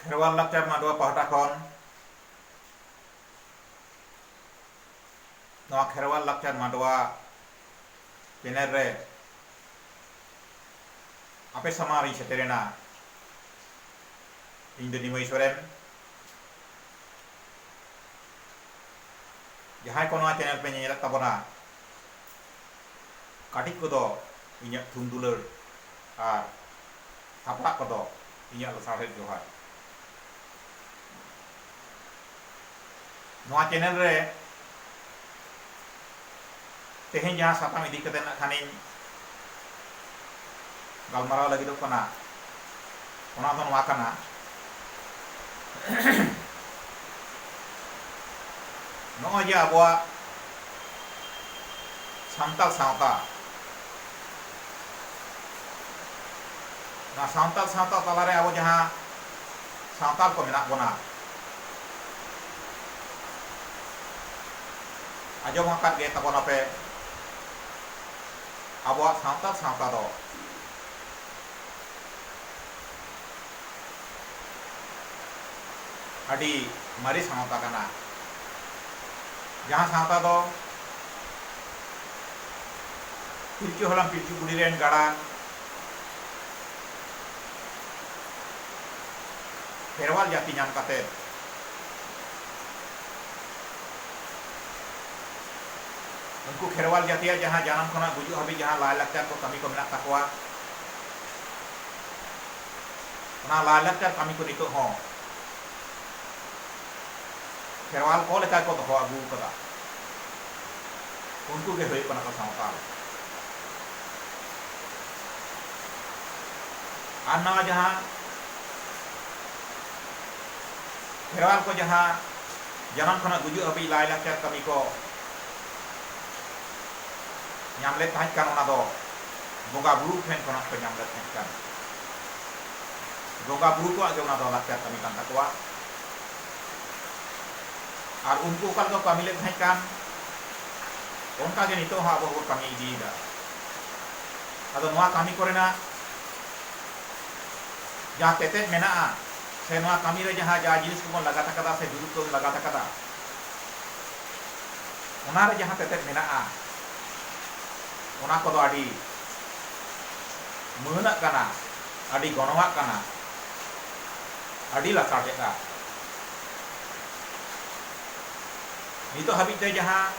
ᱠᱷᱮᱨᱣᱟᱞ ᱞᱟᱠᱪᱟᱨ ᱢᱟᱰᱣᱟ ᱯᱟᱦᱴᱟ ᱠᱷᱚᱱ ᱱᱚᱣᱟ ᱠᱷᱮᱨᱣᱟᱞ ᱞᱟᱠᱪᱟᱨ ᱢᱟᱰᱣᱟ ᱪᱮᱱᱮᱞ ᱨᱮ ᱟᱯᱮ ᱥᱟᱢᱟᱝ ᱨᱤᱧ ᱥᱮᱴᱮᱨᱮᱱᱟ ᱤᱧ ᱫᱚ ᱱᱤᱢᱟᱹᱭ ᱥᱚᱨᱮᱱ ᱡᱟᱦᱟᱸᱭ ᱠᱚ ᱱᱚᱣᱟ ᱪᱮᱱᱮᱞ ᱯᱮ ᱧᱮᱧᱮᱞᱮᱫ ᱛᱟᱵᱚᱱᱟ ᱠᱟᱹᱴᱤᱡ ᱠᱚ ᱫᱚ ᱤᱧᱟᱹᱜ ᱛᱷᱩᱢ ᱫᱩᱞᱟᱹᱲ ᱟᱨ ᱦᱟᱯᱲᱟᱜ ᱠᱚ ᱫᱚ ᱤᱧᱟᱹᱜ ᱞᱟᱥᱟᱲᱦᱮᱫ ᱡᱚᱦᱟᱨ᱾ ᱱᱚᱣᱟ ᱪᱮᱱᱮᱞ ᱨᱮ ᱛᱮᱦᱮᱧ ᱡᱟᱦᱟᱸ ᱥᱟᱛᱟᱢ ᱤᱫᱤ ᱠᱟᱛᱮ ᱱᱟᱜ ᱠᱷᱟᱱᱤᱧ ᱜᱟᱞᱢᱟᱨᱟᱣ ᱞᱟᱹᱜᱤᱫᱚᱜ ᱠᱟᱱᱟ ᱚᱱᱟ ᱫᱚ ᱱᱚᱣᱟ ᱠᱟᱱᱟ ᱱᱚᱜᱼᱚᱭ ᱡᱮ ᱟᱵᱚᱣᱟᱜ ᱥᱟᱱᱛᱟᱲ ᱥᱟᱶᱛᱟ ᱱᱚᱣᱟ ᱥᱟᱱᱛᱟᱲ ᱥᱟᱶᱛᱟ ᱛᱟᱞᱟᱨᱮ ᱟᱵᱚ ᱡᱟᱦᱟᱸ ᱥᱟᱱᱛᱟᱲ ᱠᱚ ᱢᱮᱱᱟᱜ ᱵᱚᱱᱟ ᱟᱸᱡᱚᱢ ᱟᱠᱟᱫ ᱜᱮ ᱛᱟᱵᱚᱱᱟᱯᱮ ᱟᱵᱚᱣᱟᱜ ᱥᱟᱱᱛᱟᱲ ᱥᱟᱶᱛᱟ ᱫᱚ ᱟᱹᱰᱤ ᱢᱟᱨᱮ ᱥᱟᱶᱛᱟ ᱠᱟᱱᱟ ᱡᱟᱦᱟᱸ ᱥᱟᱶᱛᱟ ᱫᱚ ᱯᱤᱞᱪᱩ ᱦᱟᱲᱟᱢ ᱯᱤᱞᱪᱩ ᱵᱩᱰᱷᱤ ᱨᱮᱱ ᱜᱟᱰᱟ ᱠᱷᱮᱨᱣᱟᱞ ᱡᱟᱹᱛᱤ ᱧᱟᱢ ᱠᱟᱛᱮ ᱩᱱᱠᱩ ᱠᱷᱮᱨᱣᱟᱞ ᱡᱟᱹᱛᱤᱭᱟᱜ ᱡᱟᱦᱟᱸ ᱡᱟᱱᱟᱢ ᱠᱷᱚᱱᱟᱜ ᱜᱩᱡᱩᱜ ᱦᱟᱹᱵᱤᱡ ᱡᱟᱦᱟᱸ ᱞᱟᱭᱞᱟᱠᱪᱟᱨ ᱠᱚ ᱠᱟᱹᱢᱤ ᱠᱚ ᱢᱮᱱᱟᱜ ᱛᱟᱠᱚᱣᱟ, ᱚᱱᱟ ᱞᱟᱭᱞᱟᱠᱪᱟᱨ ᱠᱟᱹᱢᱤ ᱠᱚ ᱱᱤᱛᱚᱜ ᱦᱚᱸ ᱠᱷᱮᱨᱣᱟᱞ ᱠᱚ ᱞᱮᱠᱟ ᱜᱮᱠᱚ ᱫᱚᱦᱚ ᱟᱹᱜᱩ ᱟᱠᱟᱫᱟ᱾ ᱩᱱᱠᱩ ᱜᱮ ᱦᱩᱭᱩᱜ ᱠᱟᱱᱟ ᱠᱚ ᱥᱟᱶᱛᱟᱞ᱾ ᱟᱨ ᱱᱚᱣᱟ ᱡᱟᱦᱟᱸ ᱠᱷᱮᱨᱣᱟᱞ ᱠᱚ ᱡᱟᱦᱟᱸ ᱡᱟᱱᱟᱢ ᱠᱷᱚᱱᱟᱜ ᱜᱩᱡᱩᱜ ᱦᱟᱹᱵᱤᱡ ᱞᱟᱭ ᱞᱟᱠᱪᱟᱨ ᱠᱟᱹᱢᱤ ᱠᱚ ᱧᱟᱢ ᱞᱮᱫ ᱛᱟᱦᱮᱸᱫ ᱠᱟᱱ ᱚᱱᱟ ᱫᱚ ᱵᱚᱸᱜᱟ ᱵᱩᱨᱩ ᱴᱷᱮᱱ ᱠᱷᱚᱱᱟᱜ ᱠᱚ ᱧᱟᱢ ᱞᱮᱫ ᱛᱟᱦᱮᱸᱫ ᱠᱟᱱ ᱵᱚᱸᱜᱟ ᱵᱩᱨᱩ ᱠᱚᱣᱟᱜ ᱜᱮ ᱚᱱᱟ ᱫᱚ ᱞᱟᱠᱪᱟᱨ ᱠᱟᱹᱢᱤ ᱠᱟᱱ ᱛᱟᱠᱚᱣᱟ ᱟᱨ ᱩᱱᱠᱩ ᱚᱠᱟ ᱞᱮᱠᱟ ᱠᱟᱹᱢᱤ ᱞᱮᱫ ᱛᱟᱦᱮᱸᱫ ᱠᱟᱱ ᱚᱱᱠᱟ ᱜᱮ ᱱᱤᱛᱚᱜ ᱦᱚᱸ ᱟᱵᱚ ᱦᱚᱸᱵᱚ ᱠᱟᱹᱢᱤ ᱤᱫᱤᱭᱮᱫᱟ ᱟᱫᱚ ᱱᱚᱣᱟ ᱠᱟᱹᱢᱤ ᱠᱚᱨᱮᱱᱟᱜ ᱡᱟᱦᱟᱸ ᱛᱮᱛᱮᱫ ᱢᱮᱱᱟᱜᱼᱟ ᱥᱮ ᱱᱚᱣᱟ ᱠᱟᱹᱢᱤ ᱨᱮ ᱡᱟᱦᱟᱸ ᱡᱟ ᱡᱤᱱᱤᱥ ᱠᱚᱵᱚᱱ ᱞᱟᱜᱟᱛ ᱟᱠᱟᱫᱟ ᱥᱮ ᱡᱩᱨᱤ ᱠᱚᱵᱚᱱ ᱞᱟᱜᱟᱛ ᱟᱠᱟᱫᱟ ᱚᱱᱟ ᱨᱮ ᱡᱟᱦᱟᱸ ᱛᱮᱛᱮᱫ ᱢᱮᱱᱟᱜᱼᱟ ᱚᱱᱟ ᱠᱚᱫᱚ ᱟᱹᱰᱤ ᱢᱟᱹᱱᱟᱜ ᱠᱟᱱᱟ ᱟᱹᱰᱤ ᱜᱚᱱᱚᱝᱟᱜ ᱠᱟᱱᱟ ᱟᱹᱰᱤ ᱞᱟᱥᱟᱲᱦᱮᱫᱼᱟ ᱱᱤᱛᱚᱜ ᱦᱟᱹᱵᱤᱡ ᱛᱮ ᱡᱟᱦᱟᱸ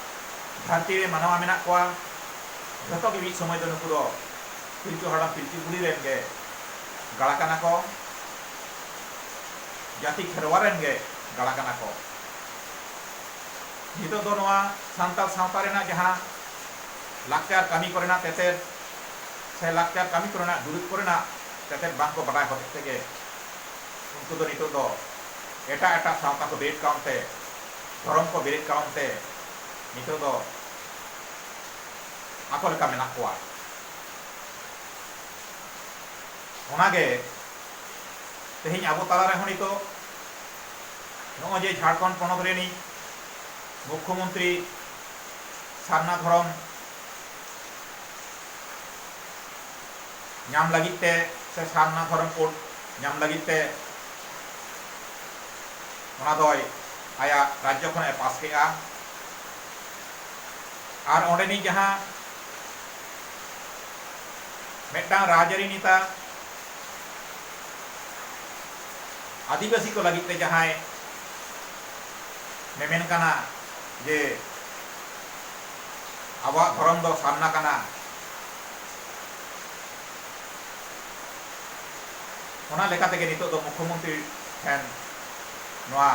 ᱫᱷᱟᱹᱨᱛᱤ ᱨᱮ ᱢᱟᱱᱣᱟ ᱢᱮᱱᱟᱜ ᱠᱚᱣᱟ ᱡᱷᱚᱛᱚ ᱜᱮ ᱢᱤᱫ ᱥᱚᱢᱚᱭ ᱫᱚ ᱱᱩᱠᱩ ᱫᱚ ᱯᱤᱞᱪᱩ ᱦᱟᱲᱟᱢ ᱯᱤᱞᱪᱩ ᱵᱩᱲᱦᱤ ᱨᱮᱱ ᱜᱮ ᱜᱟᱲᱟ ᱠᱟᱱᱟ ᱠᱚ ᱡᱟᱹᱛᱤ ᱠᱷᱮᱨᱣᱟ ᱨᱮᱱ ᱜᱮ ᱜᱟᱲᱟ ᱠᱟᱱᱟ ᱠᱚ᱾ ᱱᱤᱛᱚᱜ ᱫᱚ ᱱᱚᱣᱟ ᱥᱟᱱᱛᱟᱲ ᱥᱟᱶᱛᱟ ᱨᱮᱱᱟᱜ ᱡᱟᱦᱟᱸ ᱞᱟᱠᱪᱟᱨ ᱠᱟᱹᱢᱤ ᱠᱚᱨᱮᱱᱟᱜ ᱛᱮᱛᱮᱫ ᱥᱮ ᱞᱟᱠᱪᱟᱨ ᱠᱟᱹᱢᱤ ᱠᱚᱨᱮᱱᱟᱜ ᱫᱩᱨᱤᱵᱽ ᱠᱚᱨᱮᱱᱟᱜ ᱛᱮᱛᱮᱫ ᱵᱟᱝ ᱠᱚ ᱵᱟᱰᱟᱭ ᱦᱚᱛᱮᱡ ᱛᱮᱜᱮ ᱩᱱᱠᱩ ᱫᱚ ᱱᱤᱛᱚᱜ ᱫᱚ ᱮᱴᱟᱜ ᱮᱴᱟᱜ ᱥᱟᱶᱛᱟ ᱠᱚ ᱵᱮᱨᱮᱫ ᱠᱟᱣᱱ ᱛᱮ, ᱫᱷᱚᱨᱚᱢ ᱠᱚ ᱵᱮᱨᱮᱫ ᱠᱟᱣᱱ ᱛᱮ ᱱᱤᱛᱚᱜ ᱫᱚ ᱟᱠᱚ ᱞᱮᱠᱟ ᱢᱮᱱᱟᱜ ᱠᱚᱣᱟ᱾ ᱚᱱᱟ ᱜᱮ ᱛᱮᱦᱮᱧ ᱟᱵᱚ ᱛᱟᱞᱟ ᱨᱮᱦᱚᱸ ᱱᱤᱛᱚᱜ ᱱᱚᱜᱼᱚᱭ ᱡᱮ ᱡᱷᱟᱲᱠᱷᱚᱸᱰ ᱯᱚᱱᱚᱛ ᱨᱤᱱᱤᱡ ᱢᱩᱠᱷᱭᱚᱢᱚᱱᱛᱨᱤ ᱥᱟᱨᱱᱟ ᱫᱷᱚᱨᱚᱢ ᱧᱟᱢ ᱞᱟᱹᱜᱤᱫ ᱛᱮ ᱥᱮ ᱥᱟᱨᱱᱟ ᱫᱷᱚᱨᱚᱢ ᱠᱳᱰ ᱧᱟᱢ ᱞᱟᱹᱜᱤᱫ ᱛᱮ ᱚᱱᱟ ᱫᱚᱭ ᱟᱭᱟᱜ ᱨᱟᱡᱽᱡᱚ ᱠᱷᱚᱱᱟᱜ ᱮ ᱯᱟᱥ ᱠᱮᱜᱼᱟ ᱟᱨ ᱚᱸᱰᱮᱱᱤᱡ ᱡᱟᱦᱟᱸ ᱢᱤᱫᱴᱟᱝ ᱨᱟᱡᱽᱟᱹᱨᱤ ᱱᱮᱛᱟ ᱟᱹᱫᱤᱵᱟᱹᱥᱤ ᱠᱚ ᱞᱟᱹᱜᱤᱫ ᱛᱮ ᱡᱟᱦᱟᱸᱭ ᱢᱮᱢᱮᱱ ᱠᱟᱱᱟ ᱡᱮ ᱟᱵᱚᱣᱟᱜ ᱫᱷᱚᱨᱚᱢ ᱫᱚ ᱥᱟᱨᱱᱟ ᱠᱟᱱᱟ ᱚᱱᱟ ᱞᱮᱠᱟ ᱛᱮᱜᱮ ᱱᱤᱛᱚᱜ ᱫᱚ ᱢᱩᱠᱷᱭᱚᱢᱚᱱᱛᱨᱤ ᱴᱷᱮᱱ ᱱᱚᱣᱟ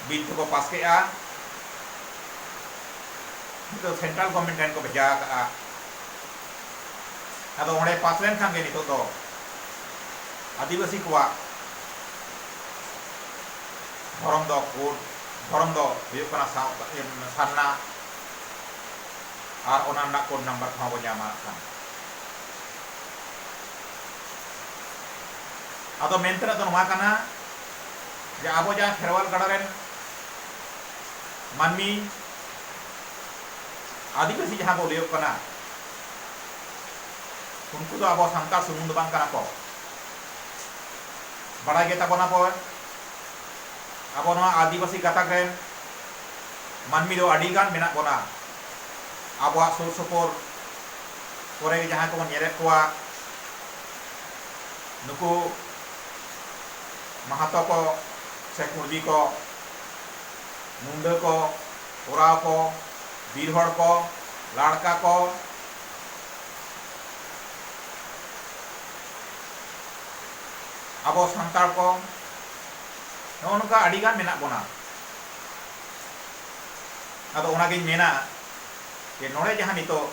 ᱵᱤᱞ ᱫᱚᱠᱚ ᱯᱟᱥ ᱠᱮᱜᱼᱟ ᱱᱤᱛᱚᱜ ᱥᱮᱱᱴᱨᱟᱞ ᱜᱚᱵᱷᱚᱨᱢᱮᱱᱴ ᱴᱷᱮᱱ ᱠᱚ ᱵᱷᱮᱡᱟ ᱟᱠᱟᱫᱼᱟ ᱟᱫᱚ ᱚᱸᱰᱮ ᱯᱟᱥ ᱞᱮᱱᱠᱷᱟᱱ ᱜᱮ ᱱᱤᱛᱚᱜ ᱫᱚ ᱟᱹᱫᱤᱵᱟᱹᱥᱤ ᱠᱚᱣᱟᱜ ᱫᱷᱚᱨᱚᱢ ᱫᱚ ᱠᱳᱰ ᱫᱷᱚᱨᱚᱢ ᱫᱚ ᱦᱩᱭᱩᱜ ᱠᱟᱱᱟ ᱥᱟᱨᱱᱟ ᱟᱨ ᱚᱱᱟ ᱨᱮᱱᱟᱜ ᱠᱳᱰ ᱱᱟᱢᱵᱟᱨ ᱠᱚᱦᱚᱸ ᱵᱚ ᱧᱟᱢᱟ ᱠᱷᱟᱱ ᱟᱫᱚ ᱢᱮᱱ ᱛᱮᱱᱟᱜ ᱫᱚ ᱱᱚᱣᱟ ᱠᱟᱱᱟ ᱡᱮ ᱟᱵᱚ ᱡᱟᱦᱟᱸ ᱠᱷᱮᱨᱣᱟᱞ ᱜᱟᱲ ᱨᱮᱱ ᱢᱟᱹᱱᱢᱤ ᱟᱹᱫᱤᱵᱟᱹᱥᱤ ᱡᱟᱦᱟᱸ ᱠᱚ ᱞᱟᱹᱭᱚᱜ ᱠᱟᱱᱟ ᱩᱱᱠᱩ ᱫᱚ ᱟᱵᱚ ᱥᱟᱱᱛᱟᱲ ᱥᱩᱢᱩᱝ ᱫᱚ ᱵᱟᱝ ᱠᱟᱱᱟ ᱠᱚ ᱵᱟᱲᱟᱭ ᱜᱮ ᱛᱟᱵᱚᱱᱟ ᱯᱮ ᱟᱵᱚ ᱱᱚᱣᱟ ᱟᱹᱫᱤᱵᱟᱹᱥᱤ ᱜᱟᱛᱟᱠ ᱨᱮᱱ ᱢᱟᱹᱱᱢᱤ ᱫᱚ ᱟᱹᱰᱤ ᱜᱟᱱ ᱢᱮᱱᱟᱜ ᱵᱚᱱᱟ ᱟᱵᱚᱣᱟᱜ ᱥᱩᱨ ᱥᱩᱯᱩᱨ ᱠᱚᱨᱮ ᱜᱮ ᱡᱟᱦᱟᱸᱭ ᱠᱚᱵᱚᱱ ᱧᱮᱞᱮᱫ ᱠᱚᱣᱟ ᱱᱩᱠᱩ ᱢᱟᱦᱟᱛᱚ ᱠᱚ ᱥᱮ ᱠᱩᱬᱵᱤ ᱠᱚ ᱢᱩᱸᱰᱟᱹ ᱠᱚ, ᱳᱨᱟᱸᱣ ᱠᱚ, ᱵᱤᱨ ᱦᱚᱲ ᱠᱚ, ᱞᱟᱲᱠᱟ ᱠᱚ, ᱟᱵᱚ ᱥᱟᱱᱛᱟᱲ ᱠᱚ ᱱᱚᱜᱼᱚ ᱱᱚᱝᱠᱟ ᱟᱹᱰᱤ ᱜᱟᱱ ᱢᱮᱱᱟᱜ ᱵᱚᱱᱟ᱾ ᱟᱫᱚ ᱚᱱᱟ ᱜᱤᱧ ᱢᱮᱱᱟ ᱡᱮ ᱱᱚᱰᱮ ᱡᱟᱦᱟᱸ ᱱᱤᱛᱚᱜ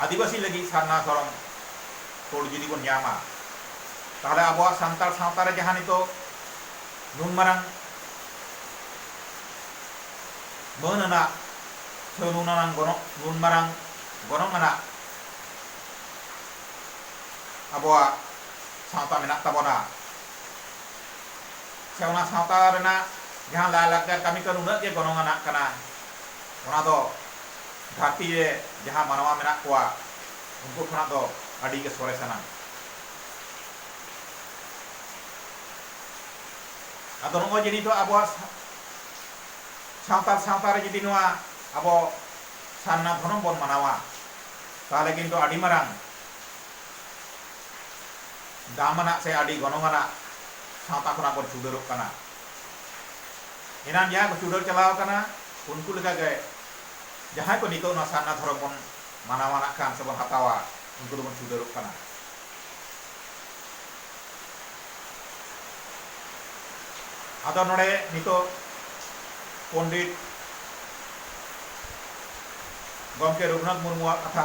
ᱟᱹᱫᱤᱵᱟᱹᱥᱤ ᱞᱟᱹᱜᱤᱫ ᱥᱟᱨᱱᱟ ᱫᱷᱚᱨᱚᱢ ᱠᱳᱰ ᱡᱩᱫᱤ ᱵᱚᱱ ᱧᱟᱢᱟ ᱛᱟᱦᱚᱞᱮ ᱟᱵᱚᱣᱟᱜ ᱥᱟᱱᱛᱟᱲ ᱥᱟᱶᱛᱟ ᱨᱮ ᱡᱟᱦᱟᱸ ᱱᱤᱛᱚᱜ ᱱᱩᱱ ᱢᱟᱨᱟᱝ ᱢᱟᱹᱱ ᱟᱱᱟᱜ ᱥᱮ ᱱᱩᱱ ᱟᱱᱟᱝ ᱜᱚᱱᱚᱝ ᱱᱩᱱ ᱢᱟᱨᱟᱝ ᱜᱚᱱᱚᱝ ᱟᱱᱟᱜ ᱟᱵᱚᱣᱟᱜ ᱥᱟᱶᱛᱟ ᱢᱮᱱᱟᱜ ᱛᱟᱵᱚᱱᱟ ᱥᱮ ᱚᱱᱟ ᱥᱟᱶᱛᱟ ᱨᱮᱱᱟᱜ ᱡᱟᱦᱟᱸ ᱞᱟᱭ ᱞᱟᱠᱪᱟᱨ ᱠᱟᱹᱢᱤ ᱠᱚ ᱱᱩᱱᱟᱹᱜ ᱜᱮ ᱜᱚᱱᱚᱝ ᱟᱱᱟᱜ ᱠᱟᱱᱟ ᱚᱱᱟ ᱫᱚ ᱫᱷᱟᱹᱨᱛᱤ ᱨᱮ ᱡᱟᱦᱟᱸ ᱢᱟᱱᱣᱟ ᱢᱮᱱᱟᱜ ᱠᱚᱣᱟ ᱩᱱᱠᱩ ᱠᱷᱚᱱᱟᱜ ᱫᱚ ᱟᱹᱰᱤ ᱜᱮ ᱥᱚᱨᱮᱥ ᱟᱱᱟᱝ᱾ ᱟᱫᱚ ᱱᱚᱜᱼᱚᱭ ᱡᱮ ᱱᱤᱛᱚᱜ ᱟᱵᱚᱣᱟᱜ ᱥᱟᱱᱛᱟᱲ ᱥᱟᱶᱛᱟ ᱨᱮ ᱡᱩᱫᱤ ᱱᱚᱣᱟ ᱟᱵᱚ ᱥᱟᱨᱱᱟ ᱫᱷᱚᱨᱚᱢ ᱵᱚᱱ ᱢᱟᱱᱟᱣᱟ ᱛᱟᱦᱚᱞᱮ ᱠᱤᱱᱛᱩ ᱟᱹᱰᱤ ᱢᱟᱨᱟᱝ ᱫᱟᱢ ᱟᱱᱟᱜ ᱥᱮ ᱟᱹᱰᱤ ᱜᱚᱱᱚᱝ ᱟᱱᱟᱜ ᱥᱟᱶᱛᱟ ᱠᱷᱚᱱᱟᱜ ᱵᱚᱱ ᱪᱩᱰᱟᱹᱨᱚᱜ ᱠᱟᱱᱟ᱾ ᱮᱱᱟᱱ ᱡᱟᱦᱟᱸᱭ ᱠᱚ ᱪᱩᱰᱟᱹᱨ ᱪᱟᱞᱟᱣ ᱟᱠᱟᱱᱟ ᱩᱱᱠᱩ ᱞᱮᱠᱟ ᱜᱮ ᱡᱟᱦᱟᱸᱭ ᱠᱚ ᱱᱤᱛᱚᱜ ᱱᱚᱣᱟ ᱥᱟᱨᱱᱟ ᱫᱷᱚᱨᱚᱢ ᱵᱚᱱ ᱢᱟᱱᱟᱣᱟ ᱱᱟᱜ ᱠᱷᱟᱱ ᱥᱮᱵᱚᱱ ᱦᱟᱛᱟᱣᱟ ᱩᱱᱠᱩ ᱫᱚᱵᱚᱱ ᱪᱷᱩᱰᱟᱹᱨᱚᱜ ᱠᱟᱱᱟ᱾ ᱟᱫᱚ ᱱᱚᱰᱮ ᱱᱤᱛᱚᱜ ᱯᱚᱱᱰᱤᱛ ᱜᱚᱢᱠᱮ ᱨᱚᱜᱷᱩᱱᱟᱛᱷ ᱢᱩᱨᱢᱩᱣᱟᱜ ᱠᱟᱛᱷᱟ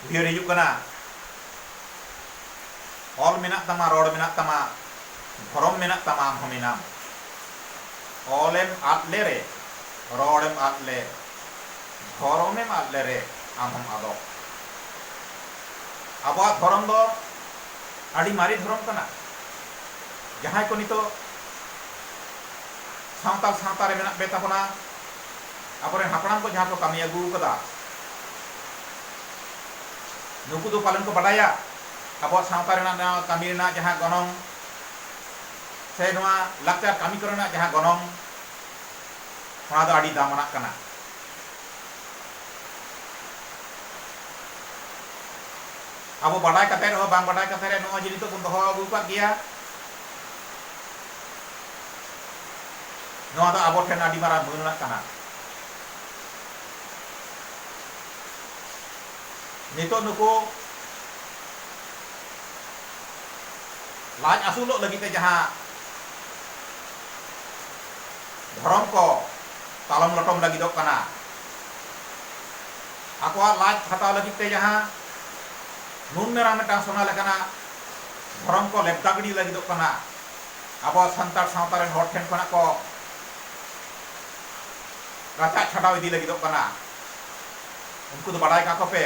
ᱩᱭᱦᱟᱹᱨ ᱦᱤᱡᱩᱜ ᱠᱟᱱᱟ, ᱚᱞ ᱢᱮᱱᱟᱜ ᱛᱟᱢᱟ, ᱨᱚᱲ ᱢᱮᱱᱟᱜ ᱛᱟᱢᱟ, ᱫᱷᱚᱨᱚᱢ ᱢᱮᱱᱟᱜ ᱛᱟᱢᱟ ᱟᱢ ᱦᱚᱸ ᱢᱮᱱᱟᱢ᱾ ᱚᱞ ᱮᱢ ᱟᱫ ᱞᱮᱨᱮ, ᱨᱚᱲ ᱮᱢ ᱟᱫ ᱞᱮ᱾ ᱫᱷᱚᱨᱚᱢᱮᱢ ᱟᱫ ᱞᱮᱨᱮ ᱟᱢ ᱦᱚᱢ ᱟᱫᱚᱜ᱾ ᱟᱵᱚᱣᱟᱜ ᱫᱷᱚᱨᱚᱢ ᱫᱚ ᱟᱹᱰᱤ ᱢᱟᱨᱮ ᱫᱷᱚᱨᱚᱢ ᱠᱟᱱᱟ᱾ ᱡᱟᱦᱟᱸᱭ ᱠᱚ ᱱᱤᱛᱚᱜ ᱥᱟᱶᱛᱟᱞ ᱥᱟᱶᱛᱟ ᱨᱮ ᱢᱮᱱᱟᱜ ᱵᱮ ᱛᱟᱵᱚᱱᱟ ᱟᱵᱚ ᱨᱮᱱ ᱦᱟᱯᱲᱟᱢ ᱠᱚ ᱡᱟᱦᱟᱸ ᱠᱚ ᱠᱟᱹᱢᱤ ᱟᱹᱜᱩ ᱟᱠᱟᱫᱟ ᱱᱩᱠᱩ ᱫᱚ ᱯᱟᱞᱮᱱ ᱠᱚ ᱵᱟᱰᱟᱭᱟ ᱟᱵᱚᱣᱟᱜ ᱥᱟᱶᱛᱟ ᱨᱮᱱᱟᱜ ᱱᱚᱣᱟ ᱠᱟᱹᱢᱤ ᱨᱮᱱᱟᱜ ᱡᱟᱦᱟᱸ ᱜᱚᱱᱚᱝ ᱥᱮ ᱱᱚᱣᱟ ᱞᱟᱠᱪᱟᱨ ᱠᱟᱹᱢᱤ ᱠᱚᱨᱮᱱᱟᱜ ᱡᱟᱦᱟᱸ ᱜᱚᱱᱚᱝ᱾ ᱚᱱᱟ ᱫᱚ ᱟᱹᱰᱤ ᱫᱟᱢᱟᱱᱟᱜ ᱠᱟᱱᱟ᱾ ᱟᱵᱚ ᱵᱟᱰᱟᱭ ᱠᱟᱛᱮ ᱨᱮᱦᱚᱸ ᱵᱟᱝ ᱵᱟᱰᱟᱭ ᱠᱟᱛᱮ ᱨᱮ ᱱᱚᱜᱼᱚᱭ ᱡᱮ ᱱᱤᱛᱚᱜ ᱵᱚᱱ ᱫᱚᱦᱚ ᱟᱹᱜᱩ ᱟᱠᱟᱫ ᱜᱮᱭᱟ, ᱱᱚᱣᱟ ᱫᱚ ᱟᱵᱚ ᱴᱷᱮᱱ ᱟᱹᱰᱤ ᱢᱟᱨᱟᱝ ᱢᱟᱹᱱ ᱟᱱᱟᱜ ᱠᱟᱱᱟ᱾ ᱱᱤᱛᱚᱜ ᱱᱩᱠᱩ ᱞᱟᱡ ᱟᱹᱥᱩᱞᱚᱜ ᱞᱟᱹᱜᱤᱫ ᱛᱮ ᱡᱟᱦᱟᱸ ᱫᱷᱚᱨᱚᱢ ᱠᱚ ᱛᱟᱞᱚᱢ ᱞᱚᱴᱚᱢ ᱞᱟᱹᱜᱤᱫᱚᱜ ᱠᱟᱱᱟ᱾ ᱟᱠᱚᱣᱟᱜ ᱞᱟᱡ ᱠᱷᱟᱴᱟᱣ ᱞᱟᱹᱜᱤᱫ ᱛᱮ ᱡᱟᱦᱟᱸ ᱱᱩᱱ ᱢᱮᱨᱟᱝ ᱢᱤᱫᱴᱟᱝ ᱥᱚᱱᱟ ᱞᱮᱠᱟᱱᱟᱜ ᱫᱷᱚᱨᱚᱢ ᱠᱚ ᱞᱮᱵᱽᱫᱟ ᱜᱤᱰᱤ ᱞᱟᱹᱜᱤᱫᱚᱜ ᱠᱟᱱᱟ, ᱟᱵᱚ ᱥᱟᱱᱛᱟᱲ ᱥᱟᱶᱛᱟ ᱨᱮᱱ ᱦᱚᱲ ᱴᱷᱮᱱ ᱠᱷᱚᱱᱟᱜ ᱠᱚ ᱨᱟᱪᱟᱜ ᱪᱷᱟᱰᱟᱣ ᱤᱫᱤ ᱞᱟᱹᱜᱤᱫᱚᱜ ᱠᱟᱱᱟ᱾ ᱩᱱᱠᱩ ᱫᱚ ᱵᱟᱰᱟᱭ ᱠᱟᱠᱚ ᱯᱮ,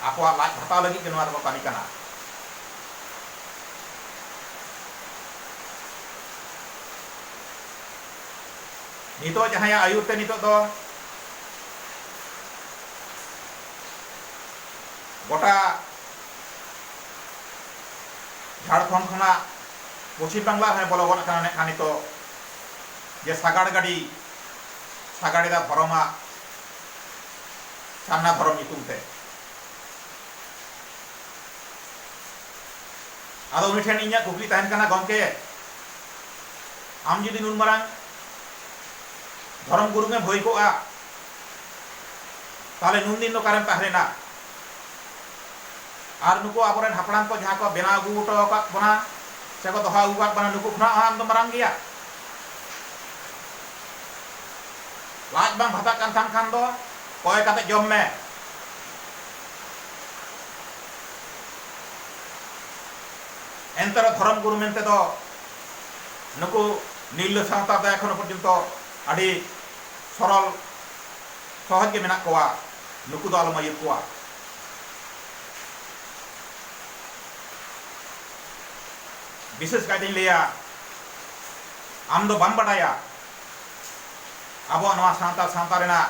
ᱟᱠᱚᱣᱟᱜ ᱞᱟᱡ ᱵᱷᱟᱛᱟᱣ ᱞᱟᱹᱜᱤᱫ ᱜᱮ ᱱᱚᱣᱟ ᱫᱚᱠᱚ ᱠᱟᱹᱢᱤ ᱠᱟᱱᱟ᱾ ᱱᱤᱛᱚᱜ ᱡᱟᱦᱟᱸᱭᱟᱜ ᱟᱹᱭᱩᱨ ᱛᱮ ᱱᱤᱛᱚᱜ ᱫᱚ ᱜᱚᱴᱟ ᱡᱷᱟᱲᱠᱷᱚᱸᱰ ᱠᱷᱚᱱᱟᱜ ᱯᱚᱪᱷᱤᱢ ᱵᱟᱝᱞᱟ ᱨᱮᱦᱚᱸᱭ ᱵᱚᱞᱚ ᱜᱚᱫ ᱟᱠᱟᱱᱟ ᱢᱮᱱᱠᱷᱟᱱ ᱱᱤᱛᱚᱜ ᱡᱮ ᱥᱟᱜᱟᱲ ᱜᱟᱹᱰᱤ ᱥᱟᱜᱟᱲ ᱮᱫᱟ ᱫᱷᱚᱨᱚᱢᱟᱜ ᱥᱟᱨᱱᱟ ᱫᱷᱚᱨᱚᱢ ᱧᱩᱛᱩᱢ ᱛᱮ ᱟᱫᱚ ᱩᱱᱤ ᱴᱷᱮᱱ ᱤᱧᱟᱹᱜ ᱠᱩᱠᱞᱤ ᱛᱟᱦᱮᱱ ᱠᱟᱱᱟ ᱜᱚᱢᱠᱮ ᱟᱢ ᱡᱩᱫᱤ ᱱᱩᱱ ᱢᱟᱨᱟᱝ ᱫᱷᱚᱨᱚᱢ ᱜᱩᱨᱩ ᱜᱮᱢ ᱦᱩᱭ ᱠᱚᱜᱼᱟ ᱛᱟᱦᱚᱞᱮ ᱱᱩᱱ ᱫᱤᱱ ᱫᱚ ᱚᱠᱟᱨᱮᱢ ᱛᱟᱦᱮᱸ ᱞᱮᱱᱟ ᱟᱨ ᱱᱩᱠᱩ ᱟᱵᱚᱨᱮᱱ ᱦᱟᱯᱲᱟᱢ ᱠᱚ ᱡᱟᱦᱟᱸ ᱠᱚ ᱵᱮᱱᱟᱣ ᱟᱹᱜᱩ ᱦᱚᱴᱚ ᱟᱠᱟᱫ ᱵᱚᱱᱟ ᱥᱮ ᱠᱚ ᱫᱚᱦᱚ ᱟᱹᱜᱩ ᱟᱠᱟᱫ ᱵᱚᱱᱟ ᱱᱩᱠᱩ ᱠᱷᱚᱱᱟᱜ ᱦᱚᱸ ᱟᱢ ᱫᱚ ᱢᱟᱨᱟᱝ ᱜᱮᱭᱟ ᱞᱟᱡ ᱵᱟᱝ ᱵᱷᱟᱛᱟᱜ ᱠᱟᱱ ᱛᱟᱢ ᱠᱷᱟᱱ ᱫᱚ ᱠᱚᱭ ᱠᱟᱛᱮ ᱡᱚᱢ ᱢᱮ ᱮᱱᱛᱮᱨᱮᱦᱚᱸ ᱫᱷᱚᱨᱚᱢ ᱜᱩᱨᱩ ᱢᱮᱱᱛᱮ ᱫᱚ ᱱᱩᱠᱩ ᱱᱤᱨᱞᱟᱹ ᱥᱟᱶᱛᱟ ᱫᱚ ᱮᱠᱷᱚᱱᱚ ᱯᱚᱨᱡᱚᱱᱛᱚ ᱟᱹᱰᱤ ᱥᱚᱨᱚᱞ ᱥᱚᱦᱚᱡᱽ ᱜᱮ ᱢᱮᱱᱟᱜ ᱠᱚᱣᱟ᱾ ᱱᱩᱠᱩ ᱫᱚ ᱟᱞᱚᱢ ᱟᱹᱭᱩᱨ ᱠᱚᱣᱟ᱾ ᱵᱤᱥᱮᱥ ᱠᱟᱭᱛᱮᱧ ᱞᱟᱹᱭᱟ ᱟᱢ ᱫᱚ ᱵᱟᱢ ᱵᱟᱰᱟᱭᱟ ᱟᱵᱚᱣᱟᱜ ᱱᱚᱣᱟ ᱥᱟᱱᱛᱟᱲ ᱥᱟᱶᱛᱟ ᱨᱮᱱᱟᱜ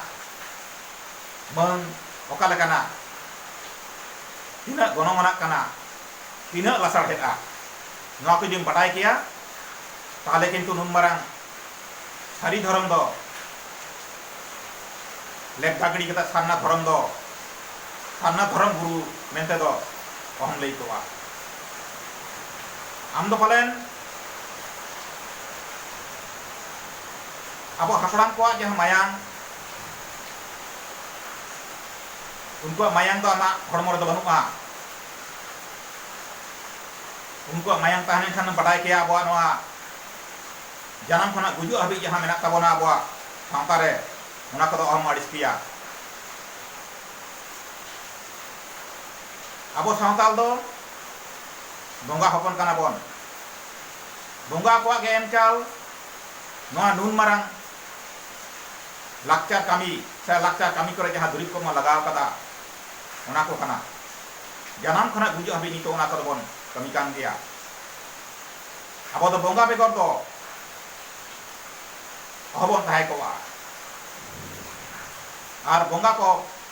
ᱢᱟᱹᱱ ᱚᱠᱟ ᱞᱮᱠᱟᱱᱟ, ᱛᱤᱱᱟᱹᱜ ᱜᱚᱱᱚᱝ ᱟᱱᱟᱜ ᱠᱟᱱᱟ᱾ ᱛᱤᱱᱟᱹᱜ ᱞᱟᱥᱟᱲᱦᱮᱫᱼᱟ ᱱᱚᱣᱟ ᱠᱚ ᱡᱩᱫᱤᱢ ᱵᱟᱰᱟᱭ ᱠᱮᱭᱟ ᱛᱟᱦᱚᱞᱮ ᱠᱤᱱᱛᱩ ᱱᱩᱱ ᱢᱟᱨᱟᱝ ᱥᱟᱹᱨᱤ ᱫᱷᱚᱨᱚᱢ ᱫᱚ ᱞᱮᱯᱫᱟ ᱜᱤᱰᱤ ᱠᱟᱛᱮ ᱥᱟᱨᱱᱟ ᱫᱷᱚᱨᱚᱢ ᱫᱚ ᱥᱟᱨᱱᱟ ᱫᱷᱚᱨᱚᱢ ᱜᱩᱨᱩ ᱢᱮᱱᱛᱮ ᱫᱚ ᱚᱦᱚᱢ ᱞᱟᱹᱭ ᱠᱚᱜᱼᱟ ᱟᱢ ᱫᱚ ᱯᱟᱞᱮᱱ ᱟᱵᱚ ᱦᱟᱯᱲᱟᱢ ᱠᱚᱣᱟᱜ ᱡᱟᱦᱟᱸ ᱢᱟᱭᱟᱝ ᱩᱱᱠᱩᱣᱟᱜ ᱢᱟᱭᱟᱝ ᱫᱚ ᱟᱢᱟᱜ ᱦᱚᱲᱢᱚ ᱨᱮᱫᱚ ᱵᱟᱹᱱᱩᱜᱼᱟ ᱩᱱᱠᱩᱣᱟᱜ ᱢᱟᱭᱟᱝ ᱛᱟᱦᱮᱸ ᱞᱮᱱᱠᱷᱟᱱ ᱮᱢ ᱵᱟᱰᱟᱭ ᱠᱮᱭᱟ ᱟᱵᱚᱣᱟᱜ ᱱᱚᱣᱟ ᱡᱟᱱᱟᱢ ᱠᱷᱚᱱᱟᱜ ᱜᱩᱡᱩᱜ ᱦᱟᱹᱵᱤᱡ ᱡᱟᱦᱟᱸ ᱢᱮᱱᱟᱜ ᱛᱟᱵᱚᱱᱟ ᱟᱵᱚᱣᱟᱜ ᱥᱟᱶᱛᱟ ᱨᱮ ᱚᱱᱟ ᱠᱚᱫᱚ ᱚᱦᱚᱢ ᱟᱹᱲᱤᱥ ᱠᱮᱭᱟ᱾ ᱟᱵᱚ ᱥᱟᱶᱛᱟᱞ ᱫᱚ ᱵᱚᱸᱜᱟ ᱦᱚᱯᱚᱱ ᱠᱟᱱᱟ ᱵᱚᱱ᱾ ᱵᱚᱸᱜᱟ ᱠᱚᱣᱟᱜ ᱜᱮ ᱮᱢ ᱪᱟᱞ ᱱᱚᱣᱟ ᱱᱩᱱ ᱢᱟᱨᱟᱝ ᱞᱟᱠᱪᱟᱨ ᱠᱟᱹᱢᱤ ᱥᱮ ᱞᱟᱠᱪᱟᱨ ᱠᱟᱹᱢᱤ ᱠᱚᱨᱮ ᱡᱟᱦᱟᱸ ᱫᱩᱨᱤᱵᱽ ᱠᱚᱵᱚᱱ ᱞᱟᱜᱟᱣ ᱟᱠᱟᱫᱟ, ᱚᱱᱟ ᱠᱚ ᱠᱟᱱᱟ ᱡᱟᱱᱟᱢ ᱠᱷᱚᱱᱟᱜ ᱜᱩᱡᱩᱜ ᱦᱟᱹᱵᱤᱡ ᱱᱤᱛᱚᱜ ᱚᱱᱟ ᱠᱚᱫᱚ ᱵᱚᱱ ᱠᱟᱹᱢᱤ ᱠᱟᱱ ᱜᱮᱭᱟ᱾ ᱟᱵᱚ ᱫᱚ ᱵᱚᱸᱜᱟ ᱵᱮᱜᱚᱨ ᱫᱚ ᱚᱦᱚ ᱵᱚᱱ ᱛᱟᱦᱮᱸ ᱠᱚᱜᱼᱟ ᱟᱨ ᱵᱚᱸᱜᱟ ᱠᱚ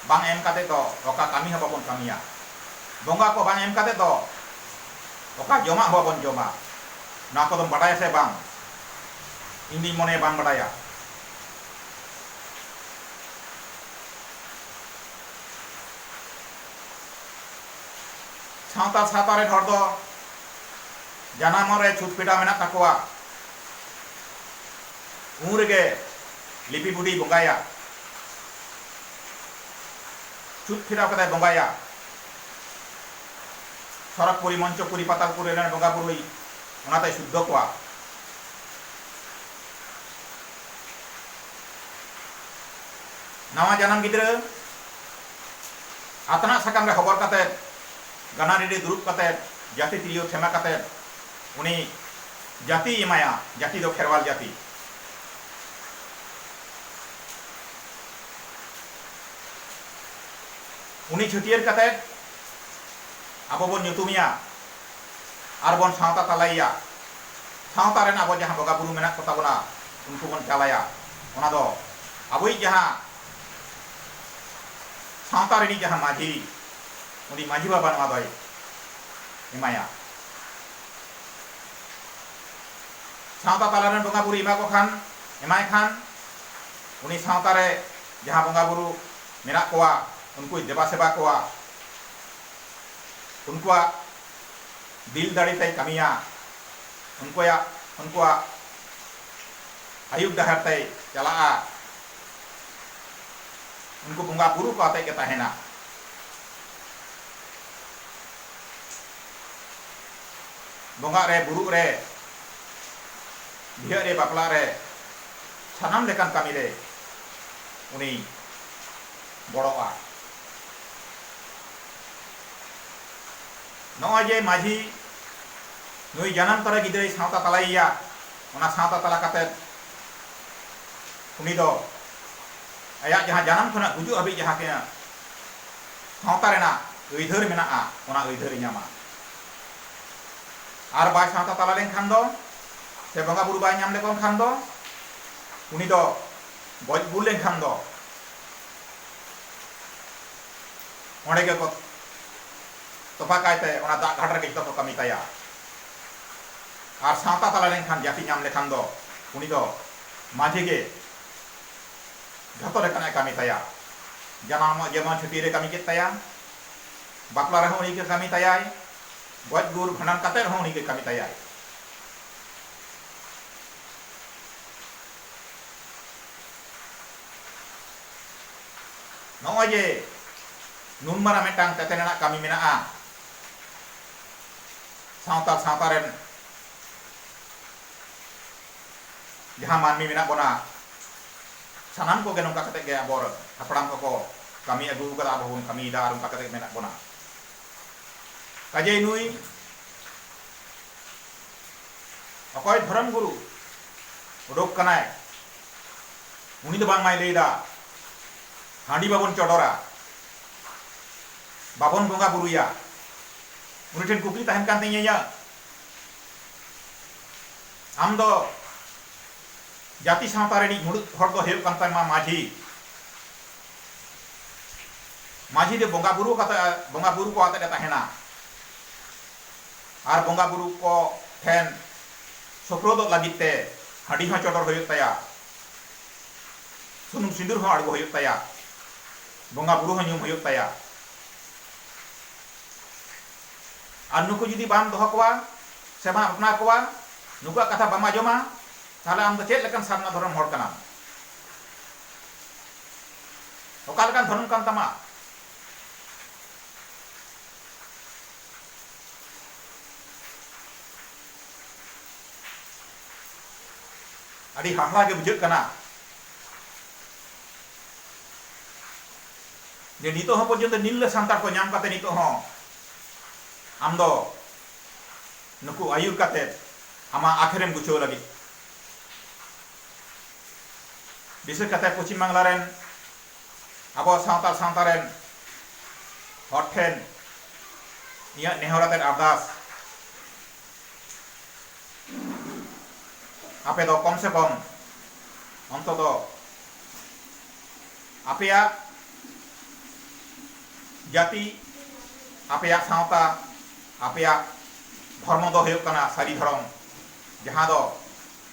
ᱵᱟᱝ ᱮᱢ ᱠᱟᱛᱮ ᱫᱚ ᱚᱠᱟ ᱠᱟᱹᱢᱤ ᱦᱚᱸ ᱵᱟᱵᱚᱱ ᱠᱟᱹᱢᱤᱭᱟ᱾ ᱵᱚᱸᱜᱟ ᱠᱚ ᱵᱟᱝ ᱮᱢ ᱠᱟᱛᱮ ᱫᱚ ᱚᱠᱟ ᱡᱚᱢᱟᱜ ᱦᱚᱸ ᱵᱟᱵᱚᱱ ᱡᱚᱢᱟ᱾ ᱱᱚᱣᱟ ᱠᱚᱫᱚᱢ ᱵᱟᱰᱟᱭᱟ ᱥᱮ ᱵᱟᱝ? ᱤᱧ ᱫᱩᱧ ᱢᱚᱱᱮᱭᱟ ᱵᱟᱢ ᱵᱟᱰᱟᱭᱟ᱾ ᱥᱟᱶᱛᱟᱞ ᱥᱟᱶᱛᱟ ᱨᱮᱱ ᱦᱚᱲ ᱫᱚ ᱡᱟᱱᱟᱢᱚᱜ ᱨᱮ ᱪᱷᱩᱛ ᱯᱷᱮᱰᱟᱣ ᱢᱮᱱᱟᱜ ᱛᱟᱠᱚᱣᱟ᱾ ᱩᱱ ᱨᱮᱜᱮ ᱞᱤᱯᱤ ᱵᱩᱰᱷᱤᱭ ᱵᱚᱸᱜᱟᱭᱟ᱾ ᱪᱷᱩᱛ ᱯᱷᱮᱰᱟᱣ ᱠᱟᱛᱮᱭ ᱵᱚᱸᱜᱟᱭᱟ᱾ ᱥᱚᱨᱚᱜᱽᱯᱩᱨᱤ, ᱢᱚᱧᱪᱚᱯᱩᱨᱤ, ᱯᱟᱛᱟᱞᱯᱩᱨᱤ ᱨᱮᱱ ᱵᱚᱸᱜᱟ ᱵᱩᱨᱩᱭ ᱚᱱᱟᱛᱮᱭ ᱥᱩᱫᱽᱫᱷᱚ ᱠᱚᱣᱟ᱾ ᱱᱟᱣᱟ ᱡᱟᱱᱟᱢ ᱜᱤᱫᱽᱨᱟᱹ ᱟᱛᱱᱟᱜ ᱥᱟᱠᱟᱢ ᱨᱮ ᱦᱚᱵᱚᱨ ᱠᱟᱛᱮ ᱜᱟᱱᱟ ᱨᱮᱰᱮ ᱫᱩᱨᱩᱵ ᱠᱟᱛᱮ ᱡᱟᱹᱛᱤ ᱛᱤᱨᱭᱳ ᱴᱷᱮᱢᱟ ᱠᱟᱛᱮ ᱩᱱᱤ ᱡᱟᱹᱛᱤᱭ ᱮᱢᱟᱭᱟ ᱡᱟᱹᱛᱤ ᱫᱚ ᱠᱷᱮᱨᱣᱟᱞ ᱡᱟᱹᱛᱤ᱾ ᱩᱱᱤ ᱪᱷᱟᱹᱴᱭᱟᱹᱨ ᱠᱟᱛᱮ ᱟᱵᱚ ᱵᱚᱱ ᱧᱩᱛᱩᱢᱮᱭᱟ ᱟᱨ ᱵᱚᱱ ᱥᱟᱶᱛᱟ ᱛᱟᱞᱟᱭᱮᱭᱟ᱾ ᱥᱟᱶᱛᱟ ᱨᱮᱱ ᱟᱵᱚ ᱡᱟᱦᱟᱸ ᱵᱚᱸᱜᱟ ᱵᱩᱨᱩ ᱢᱮᱱᱟᱜ ᱠᱚ ᱛᱟᱵᱚᱱᱟ ᱩᱱᱠᱩ ᱵᱚᱱ ᱪᱟᱞᱟᱭᱟ ᱚᱱᱟ ᱫᱚ ᱟᱵᱚᱭᱤᱡ ᱡᱟᱦᱟᱸ ᱥᱟᱶᱛᱟ ᱨᱤᱱᱤᱡ ᱡᱟᱦᱟᱸ ᱢᱟᱹᱡᱷᱤ ᱩᱱᱤ ᱢᱟᱹᱡᱷᱤ ᱵᱟᱵᱟ ᱱᱚᱣᱟ ᱫᱚᱭ ᱮᱢᱟᱭᱟ᱾ ᱥᱟᱶᱛᱟ ᱛᱟᱞᱟ ᱨᱮᱱ ᱵᱚᱸᱜᱟ ᱵᱩᱨᱩᱭ ᱮᱢᱟ ᱠᱚ ᱠᱷᱟᱱ ᱮᱢᱟᱭ ᱠᱷᱟᱱ ᱩᱱᱤ ᱥᱟᱶᱛᱟ ᱨᱮ ᱡᱟᱦᱟᱸ ᱵᱚᱸᱜᱟ ᱵᱩᱨᱩ ᱢᱮᱱᱟᱜ ᱠᱚᱣᱟ ᱩᱱᱠᱩᱭ ᱫᱮᱵᱟ ᱥᱮᱵᱟ ᱠᱚᱣᱟ᱾ ᱩᱱᱠᱩᱣᱟᱜ ᱫᱤᱞ ᱫᱟᱲᱮ ᱛᱮᱭ ᱠᱟᱹᱢᱤᱭᱟ, ᱩᱱᱠᱩᱭᱟᱜ ᱩᱱᱠᱩᱣᱟᱜ ᱟᱹᱭᱩᱨ ᱰᱟᱦᱟᱨ ᱛᱮᱭ ᱪᱟᱞᱟᱜᱼᱟ, ᱩᱱᱠᱩ ᱵᱚᱸᱜᱟ ᱵᱩᱨᱩ ᱠᱚ ᱟᱛᱮ ᱜᱮ ᱛᱟᱦᱮᱸᱱᱟ᱾ ᱵᱚᱸᱜᱟᱜ ᱨᱮ, ᱵᱩᱨᱩᱜ ᱨᱮ, ᱵᱤᱦᱟᱹᱜ ᱨᱮ, ᱵᱟᱯᱞᱟᱜ ᱨᱮ, ᱥᱟᱱᱟᱢ ᱞᱮᱠᱟᱱ ᱠᱟᱹᱢᱤ ᱨᱮ ᱩᱱᱤᱭ ᱜᱚᱲᱚᱜᱼᱟ᱾ ᱱᱚᱜᱼᱚᱭ ᱡᱮ ᱢᱟᱹᱡᱷᱤ ᱱᱩᱭ ᱡᱟᱱᱟᱢ ᱛᱚᱨᱟ ᱜᱤᱫᱽᱨᱟᱹᱭ ᱥᱟᱶᱛᱟ ᱛᱟᱞᱟᱭᱮᱭᱟ ᱚᱱᱟ ᱥᱟᱶᱛᱟ ᱛᱟᱞᱟ ᱠᱟᱛᱮ ᱩᱱᱤ ᱫᱚ ᱟᱭᱟᱜ ᱡᱟᱦᱟᱸ ᱡᱟᱱᱟᱢ ᱠᱷᱚᱱᱟᱜ ᱜᱩᱡᱩᱜ ᱦᱟᱹᱵᱤᱡ ᱡᱟᱦᱟᱸ ᱛᱤᱱᱟᱹᱜ ᱥᱟᱶᱛᱟ ᱨᱮᱱᱟᱜ ᱟᱹᱭᱫᱷᱟᱹᱨ ᱢᱮᱱᱟᱜᱼᱟ ᱚᱱᱟ ᱟᱹᱭᱫᱷᱟᱹᱨ ᱧᱟᱢᱟ ᱟᱨ ᱵᱟᱭ ᱥᱟᱶᱛᱟ ᱛᱟᱞᱟ ᱞᱮᱱᱠᱷᱟᱱ ᱫᱚ ᱥᱮ ᱵᱚᱸᱜᱟ ᱵᱩᱨᱩ ᱵᱟᱭ ᱧᱟᱢ ᱞᱮᱠᱚ ᱠᱷᱟᱱ ᱫᱚ ᱩᱱᱤ ᱫᱚ ᱜᱚᱡ ᱜᱩᱨ ᱞᱮᱱᱠᱷᱟᱱ ᱫᱚ ᱚᱸᱰᱮ ᱜᱮ ᱠᱚ ᱛᱚᱯᱷᱟ ᱠᱟᱭ ᱛᱮ ᱚᱱᱟ ᱫᱟᱜ ᱜᱷᱟᱴ ᱨᱮᱜᱮ ᱡᱚᱛᱚ ᱠᱚ ᱠᱟᱹᱢᱤ ᱛᱟᱭᱟ ᱟᱨ ᱥᱟᱶᱛᱟ ᱛᱟᱞᱟ ᱨᱮ ᱮᱱᱠᱷᱟᱱ ᱡᱟᱹᱛᱤ ᱧᱟᱢ ᱞᱮᱠᱷᱟᱱ ᱫᱚ ᱩᱱᱤ ᱫᱚ ᱢᱟᱹᱡᱷᱤ ᱜᱮ ᱡᱚᱛᱚ ᱞᱮᱠᱟᱱᱟᱜ ᱮ ᱠᱟᱹᱢᱤ ᱛᱟᱭᱟ ᱡᱟᱱᱟᱢᱚᱜ ᱡᱮᱢᱚᱱ ᱪᱷᱩᱴᱤ ᱨᱮ ᱠᱟᱹᱢᱤ ᱠᱮᱫ ᱛᱟᱭᱟ ᱵᱟᱯᱞᱟ ᱨᱮᱦᱚᱸ ᱩᱱᱤ ᱜᱮ ᱠᱟᱹᱢᱤ ᱛᱟᱭᱟᱭ ᱜᱚᱡ ᱜᱩᱨ ᱵᱷᱟᱸᱰᱟᱱ ᱠᱟᱛᱮ ᱨᱮᱦᱚᱸ ᱩᱱᱤ ᱜᱮ ᱠᱟᱹᱢᱤ ᱛᱟᱭᱟᱭ ᱱᱚᱜᱼᱚᱭ ᱡᱮ ᱱᱩᱱ ᱢᱟᱨᱟᱝ ᱢᱤᱫᱴᱟᱝ ᱛᱮᱛᱮᱫ ᱟᱱᱟᱜ ᱠᱟᱹᱢᱤ ᱢᱮᱱᱟᱜᱼᱟ ᱥᱟᱶᱛᱟᱞ ᱥᱟᱶᱛᱟ ᱨᱮᱱ ᱡᱟᱦᱟᱸ ᱢᱟᱹᱱᱢᱤ ᱢᱮᱱᱟᱜ ᱵᱚᱱᱟ ᱥᱟᱱᱟᱢ ᱠᱚᱜᱮ ᱱᱚᱝᱠᱟ ᱠᱟᱛᱮ ᱜᱮ ᱟᱵᱚ ᱦᱟᱯᱲᱟᱢ ᱠᱚᱠᱚ ᱠᱟᱹᱢᱤ ᱟᱹᱜᱩ ᱟᱠᱟᱫᱟ ᱟᱵᱚ ᱵᱚᱱ ᱠᱟᱹᱢᱤᱭᱮᱫᱟ ᱟᱨ ᱚᱱᱠᱟ ᱠᱟᱛᱮ ᱢᱮᱱᱟᱜ ᱵᱚᱱᱟ ᱠᱟᱡᱮ ᱱᱩᱭ ᱚᱠᱚᱭ ᱫᱷᱚᱨᱚᱢ ᱜᱩᱨᱩ ᱩᱰᱩᱠ ᱠᱟᱱᱟᱭ ᱩᱱᱤ ᱫᱚ ᱵᱟᱝᱢᱟᱭ ᱞᱟᱹᱭ ᱮᱫᱟ ᱦᱟᱺᱰᱤ ᱵᱟᱵᱚᱱ ᱪᱚᱰᱚᱨᱟ, ᱵᱟᱵᱚᱱ ᱵᱚᱸᱜᱟ ᱵᱩᱨᱩᱭᱟ᱾ ᱩᱱᱤ ᱴᱷᱮᱱ ᱠᱩᱠᱞᱤ ᱛᱟᱦᱮᱱ ᱠᱟᱱ ᱛᱤᱧᱟᱹ ᱤᱧᱟᱹᱜ, ᱟᱢ ᱫᱚ ᱡᱟᱹᱛᱤ ᱥᱟᱶᱛᱟ ᱨᱤᱱᱤᱡ ᱢᱩᱬᱩᱛ ᱦᱚᱲ ᱫᱚ ᱦᱩᱭᱩᱜ ᱠᱟᱱ ᱛᱟᱢᱟ ᱢᱟᱹᱡᱷᱤ᱾ ᱢᱟᱹᱡᱷᱤ ᱫᱚ ᱵᱚᱸᱜᱟ ᱵᱩᱨᱩ ᱠᱟᱛᱮ ᱵᱚᱸᱜᱟ ᱵᱩᱨᱩ ᱠᱚ ᱟᱛᱮ ᱮ ᱛᱟᱦᱮᱱᱟ ᱟᱨ ᱵᱚᱸᱜᱟ ᱵᱩᱨᱩ ᱠᱚ ᱴᱷᱮᱱ ᱥᱳᱯᱨᱳᱫᱚᱜ ᱞᱟᱹᱜᱤᱫ ᱛᱮ ᱦᱟᱺᱰᱤ ᱦᱚᱸ ᱪᱚᱰᱚᱨ ᱦᱩᱭᱩᱜ ᱛᱟᱭᱟ, ᱥᱩᱱᱩᱢ ᱥᱤᱸᱫᱩᱨ ᱦᱚᱸ ᱟᱬᱜᱚ ᱦᱩᱭᱩᱜ ᱛᱟᱭᱟ, ᱵᱚᱸᱜᱟ ᱵᱩᱨᱩ ᱦᱚᱸ ᱧᱩᱢ ᱦᱩᱭᱩᱜ ᱛᱟᱭᱟ᱾ ᱟᱨ ᱱᱩᱠᱩ ᱡᱩᱫᱤ ᱵᱟᱢ ᱫᱚᱦᱚ ᱠᱚᱣᱟ ᱥᱮ ᱵᱟᱢ ᱟᱯᱱᱟᱨ ᱠᱚᱣᱟ, ᱱᱩᱠᱩᱣᱟᱜ ᱠᱟᱛᱷᱟ ᱵᱟᱢ ᱟᱸᱡᱚᱢᱟ, ᱛᱟᱦᱚᱞᱮ ᱟᱢ ᱫᱚ ᱪᱮᱫ ᱞᱮᱠᱟᱱ ᱥᱟᱨᱱᱟ ᱫᱷᱚᱨᱚᱢ ᱦᱚᱲ ᱠᱟᱱᱟᱢ? ᱚᱠᱟ ᱞᱮᱠᱟᱱ ᱫᱷᱚᱨᱚᱢ ᱠᱟᱱ ᱛᱟᱢᱟ? ᱟᱹᱰᱤ ᱦᱟᱦᱟᱲᱟ ᱜᱮ ᱵᱩᱡᱷᱟᱹᱜ ᱠᱟᱱᱟ ᱡᱮ ᱱᱤᱛᱚᱜ ᱦᱚᱸ ᱯᱚᱨᱡᱚᱱᱛᱚ ᱱᱤᱞᱞᱟᱹ ᱥᱟᱱᱛᱟᱲ ᱠᱚ ᱧᱟᱢ ᱠᱟᱛᱮ ᱱᱤᱛᱚᱜ ᱦᱚᱸ ᱟᱢ ᱫᱚ ᱱᱩᱠᱩ ᱟᱹᱭᱩᱨ ᱠᱟᱛᱮ ᱟᱢᱟᱜ ᱟᱠᱷᱮᱨᱮᱢ ᱜᱩᱪᱷᱟᱹᱣ ᱞᱟᱹᱜᱤᱫ ᱵᱤᱥᱮᱥ ᱠᱟᱛᱮ ᱯᱚᱪᱷᱤᱢ ᱵᱟᱝᱞᱟ ᱨᱮᱱ ᱟᱵᱚᱣᱟᱜ ᱥᱟᱶᱛᱟᱞ ᱥᱟᱶᱛᱟ ᱨᱮᱱ ᱦᱚᱲ ᱴᱷᱮᱱ ᱤᱧᱟᱹᱜ ᱱᱮᱦᱚᱨ ᱟᱛᱮᱫ ᱟᱨᱫᱟᱥ ᱟᱯᱮ ᱫᱚ ᱠᱚᱢ ᱥᱮ ᱠᱚᱢ ᱚᱱᱛᱚᱛᱚ ᱟᱯᱮᱭᱟᱜ ᱡᱟᱹᱛᱤ ᱟᱯᱮᱭᱟᱜ ᱥᱟᱶᱛᱟ ᱟᱯᱮᱭᱟᱜ ᱫᱷᱚᱨᱢᱚ ᱫᱚ ᱦᱩᱭᱩᱜ ᱠᱟᱱᱟ ᱥᱟᱹᱨᱤ ᱫᱷᱚᱨᱚᱢ ᱡᱟᱦᱟᱸ ᱫᱚ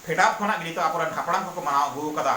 ᱯᱷᱮᱰᱟᱛ ᱠᱷᱚᱱᱟᱜ ᱜᱮ ᱱᱤᱛᱚᱜ ᱟᱵᱚᱨᱮᱱ ᱦᱟᱯᱲᱟᱢ ᱠᱚᱠᱚ ᱢᱟᱱᱟᱣ ᱟᱹᱜᱩ ᱟᱠᱟᱫᱟ